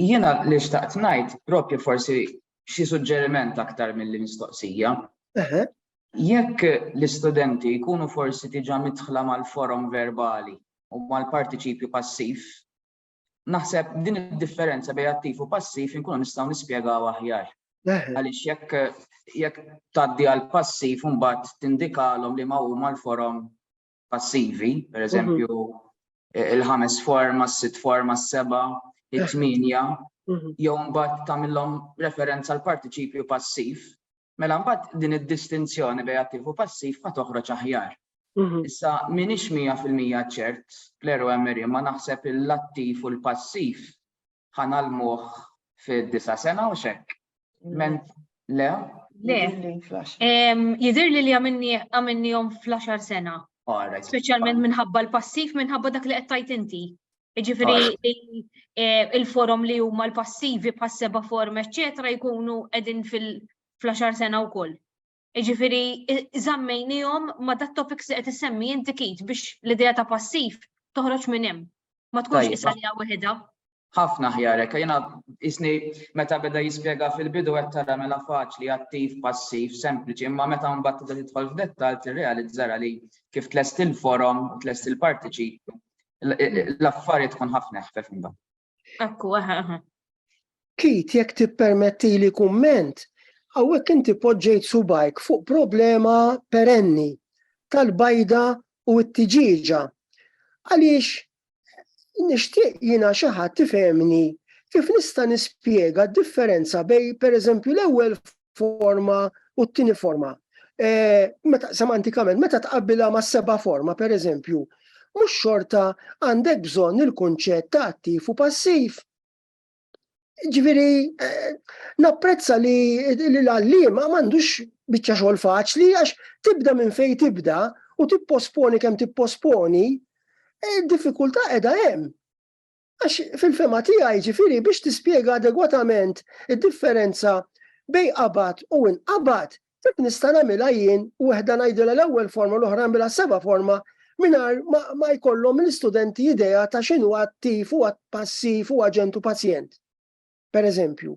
Jiena li xtaqt ngħid propju forsi xi suġġeriment aktar milli mistoqsija. Jekk l-istudenti jkunu forsi diġà midħla mal-forom verbali u mal-partiċipju passiv, naħseb din id-differenza bejn attiv u passiv inkunu nistgħu nispjegaw aħjar. Għaliex jekk jekk tgħaddi għal passiv imbagħad tindikalhom liema huma l-forom passivi, per eżempju, mhm. il-ħames forma, s-sitt forma, s-seba, it-tminja, mhm. jew mbagħad tagħmilhom referenza l partiċipju passiv, mela mbagħad din id-distinzjoni bejn attiv u passiv ma toħroġ aħjar. Mhm. Issa minix 100% ċert, Kleru Emery, ma naħseb l-attiv u l-passiv ħa nagħlmuh fid-disa' sena u x'hekk. Ment le? Le. Jidhir li li għamilnihom fl-10 sena. Speċjalment minħabba l-passiv, minħabba dak li qed tajt inti. Ġifieri il-forom li huma l-passivi pas-seba' form, eċċetera, jkunu qegħdin fil-10 sena wkoll. Jiġifieri żammejniehom ma' dat topics li qed issemmi inti kit biex l-idea ta' passiv toħroġ minn hemm. Ma tkunx qisha li waħedha. Ħafna ħjar hekk, jiena isni meta beda jispjega fil-bidu qed tara mela faċli attiv, passiv, sempliċi, imma meta mbagħad tibda tidħol f'dettall tirrealizza li kif tlest il-forom, tlest il-partiċipju, l-affarijiet tkun ħafna ħfef imbagħad. Ekku, aha, aha. Kit jekk tippermetti li kumment, għawek inti poġġejt subajk fuq problema perenni tal-bajda u t-tiġiġa. Għaliex nixtieq jina xi ħadd tifhemni kif nista' nispjega d-differenza bej pereżempju l-ewwel forma u t-tieni forma. E, meta semantikament, meta tqabbilha ma' seba' forma, per eżempju, mhux xorta għandek bżonn il-kunċett ta' attiv u passiv. Ġifieri e, napprezza li l-għalliema m'għandux biċċa xogħol faċli għax tibda minn fejn tibda u tipposponi kemm tipposponi, e, diffikultà qiegħda hemm. Għax fil-fema tiegħi ġifieri biex tispjega adegwatament id-differenza bej qabad u inqabad, dik nista' nagħmilha jien u waħda ngħidilha l-ewwel forma l-oħra nagħmilha seba' forma mingħajr ma jkollhom l-istudenti idea ta' x'inhu attiv u passiv u aġent u pazjent. Pereżempju,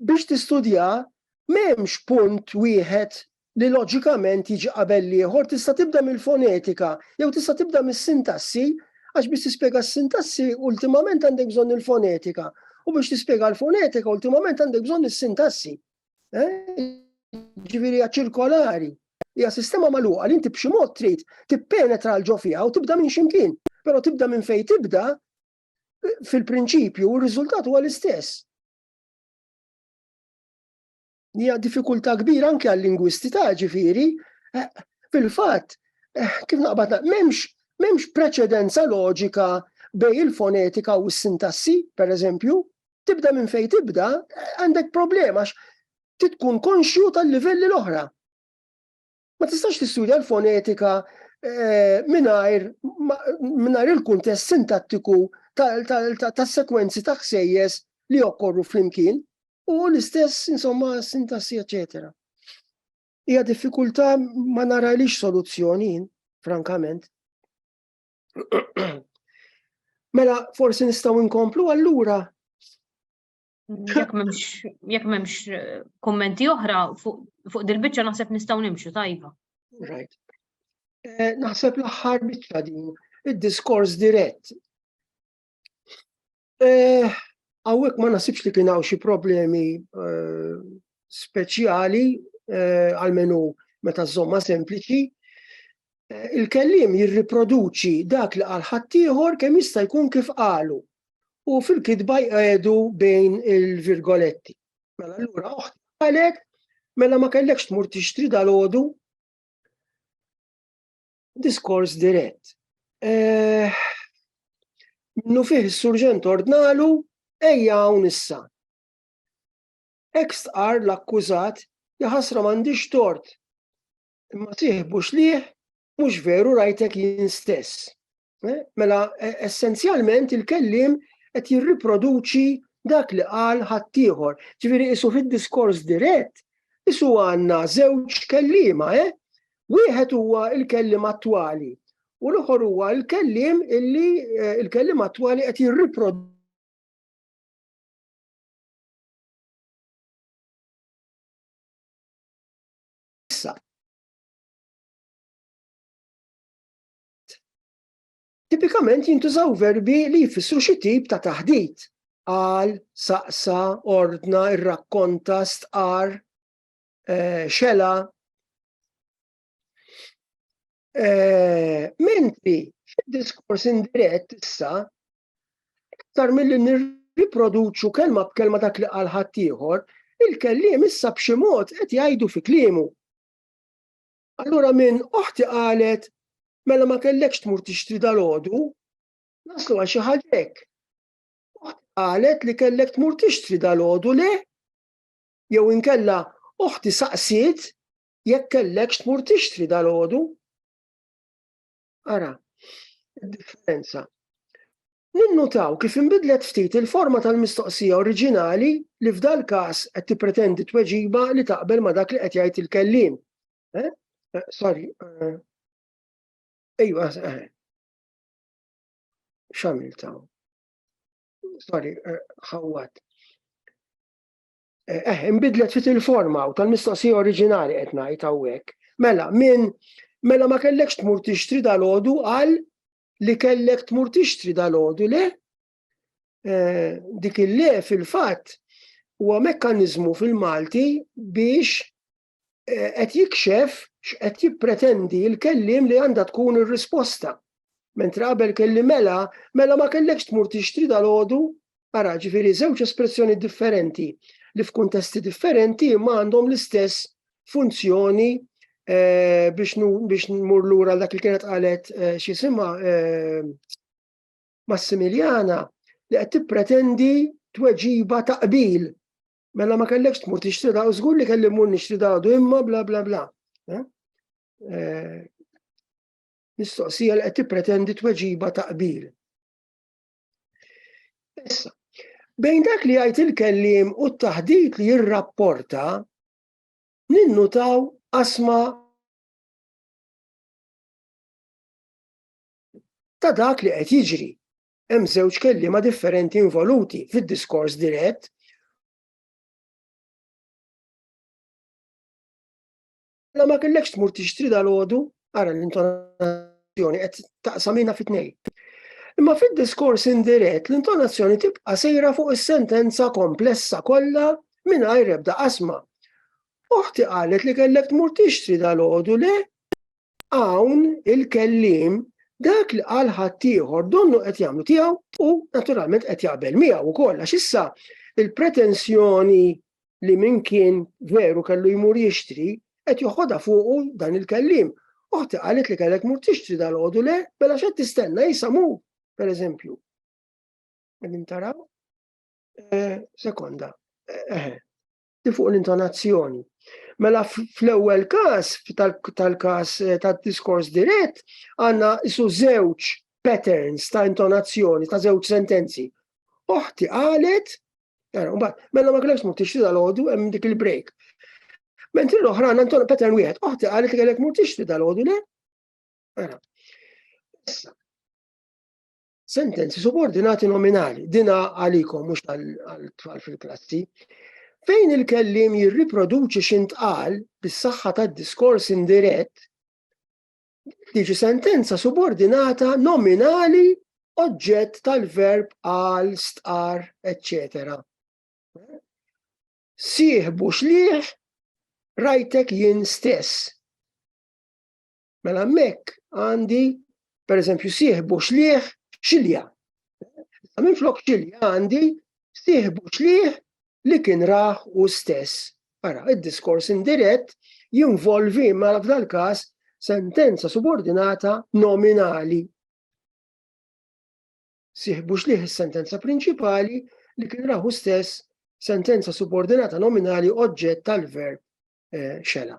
Biex tistudja, m'hemmx punt wieħed li loġikament jiġi qabel l-ieħor, tista' tibda mill-fonetika jew tista' tibda mis-sintassi għax biex tispjega s-sintassi ultimament għandek bżonn il-fonetika u biex tispjega l-fonetika ultimament għandek bżonn is-sintassi. Eh? ġviri ċirkolari. Hija sistema magħluqa li inti b'xi mod trid tippenetra l ġo fiha u tibda minn ximkien. Però tibda minn fejn tibda fil-prinċipju u r-riżultat huwa l-istess. Hija diffikultà kbira anke għal-lingwisti ta' ġifieri, eh, fil-fatt, eh, kif naqbad m'hemmx m'hemmx preċedenza loġika bej il-fonetika u s-sintassi, per eżempju, tibda minn fejn tibda, għandek problema għax titkun konxju tal-livelli l-oħra. Ma tistax tistudja l-fonetika eh, mingħajr il-kuntest sintattiku tas-sekwenzi ta' ħsejjes li jokkorru flimkien u l-istess insomma sintassi eċetera. Hija diffikultà ma narajlix soluzzjoni frankament. Mela forsi nistgħu nkomplu allura Jekk m'hemmx jekk m'hemmx eh, kummenti oħra fuq dil-biċċa naħseb nistgħu nimxu tajba. Right. Eh, naħseb l-aħħar biċċa din id-diskors dirett. Eh, hawnhekk ma nasibx li kien hawn xi problemi speċjali għalmenu meta żomma sempliċi. Il-kellim jirriproduċi dak li għal ħaddieħor kemm jista' jkun kif qalu. u fil-kitba jqegħdu bejn il-virgoletti. Mela allura oħt qalet, mela ma kellekx tmur tixtri dal-għodu diskors dirett. Eh, minnu fih is-surġent ordnalu ejja hawn issa. Ekst qar l-akkużat jaħasra m'għandix tort. Imma tiħbux liħ mhux veru rajtek jien stess. Eh, mela, e, essenzjalment il-kellim qed jirriproduċi dak li qal ħaddieħor. Ġifieri isu fid-diskors dirett, isu għandna żewġ kellima, eh? Wieħed huwa il-kellim attwali u l-oħor huwa l-kellim illi eh, il-kellim attwali qed jirriproduċi Tipikament jintużaw verbi li jfissru xi tip ta' taħdit, qal, saqsa, ordna, irrakkonta, stqar, eh, xela. Eh, mentri fid-diskors indirett issa iktar milli nirriproduċu kelma b'kelma dak li qal ħaddieħor, il-kelliem issa b'xi mod qed jgħidu fi kliemu. Allura minn oħti qalet, mela ma kellekx tmur tixtri dal-ħodu, naslu għal xi ħaġek. Oħti qalet li kellek tmur tixtri dal-ħodu le, jew inkella oħti saqsiet jekk kellekx tmur tixtri dal-ħodu. Ara, differenza. Ninnutaw kif inbidlet ftit il-forma tal-mistoqsija oriġinali li f'dal każ qed tippretendi tweġiba li taqbel ma' dak li qed jgħid il-kelliem. Eh? Eh, sorry. Eh. Ejwa, xamil taw. Sorry, ħawwat. Eh, eh imbidlet fit il-forma u tal-mistoqsija oriġinali qed ngħid hawnhekk. Mela, minn mela ma kellekx tmur tixtri dal-ħodu għal li kellek tmur tixtri dal-ħodu le? Eh, dik il-le fil-fatt huwa mekkaniżmu fil-Malti biex qed jikxef x'qed jippretendi l-kellim li għandha tkun ir-risposta. Mentre qabel kelli mela, mela ma kellekx tmur tixtri dal-ħodu, ara ġifiri żewġ espressjoni differenti li f'kuntesti differenti ma għandhom l-istess funzjoni eh, biex, biex nmur lura dak li kienet qalet eh, xisima eh, Massimiljana li qed tippretendi tweġiba ta' qbil Mela ma kellekx tmur tixtri daqu, żgur li kelli mmur nixtri daqdu imma bla bla bla. Eh? Eh, mistoqsija li qed tippretendi tweġiba ta' qbil. Issa, bejn dak li jgħid il-kellim u t-taħdit li jirrapporta, ninnutaw asma ta' dak li qed jiġri. hemm żewġ kelliema differenti involuti fid-diskors dirett La ma kellekx tmur tixtri dal-ħodu, ara l-intonazzjoni qed taqsamina fit-tnejn. Imma fid-diskors indirett l-intonazzjoni tibqa' sejra fuq is-sentenza komplessa kollha mingħajr ebda qasma. Oħti qalet li kellek tmur tixtri dal-ħodu le, Hawn il-kelliem dak li qal ħaddieħor donnu qed jagħmlu tiegħu u naturalment qed jaqbel miegħu wkoll għax issa il-pretensjoni li min kien veru kellu jmur jixtri qed joħodha fuqu dan il-kellim. Oħti qalet li kellek mur tixtri dal-għodu le, bella mela xed tistenna jisamu, per eżempju. Għedin taraw? Eh, sekonda. Eh, eh. fuq l-intonazzjoni. Mela fl-ewwel każ tal-każ eh, tad-diskors dirett għandna isu żewġ patterns ta' intonazzjoni ta' żewġ sentenzi. Oħti qalet, mela ma kellekx mur tixtri dal-għodu hemm dik il-break. Mentri l-oħra għandna inton pattern wieħed, oħti qalet li kellek mur tixtri dal-għodu le? Mela. sentenzi subordinati nominali, dina għalikom mhux għal-tfal fil-klassi, fejn il-kellim jirriproduċi xintqal bis-saħħa tad-diskors indirett, tiġi sentenza subordinata nominali oġġett tal-verb għal, stqar, etc. Sieħbu xliħ rajtek jien stess. Mela hemmhekk għandi pereżempju sieħbu xlieħ xilja. Minn flok xilja għandi sieħbu xlieħ li kien raħ u stess. Ara, id-diskors indirett jinvolvi ma f'dal każ sentenza subordinata nominali. Sieħbu xlieħ is-sentenza prinċipali li kien raħu stess sentenza subordinata nominali oġġett tal-verb eh, xela.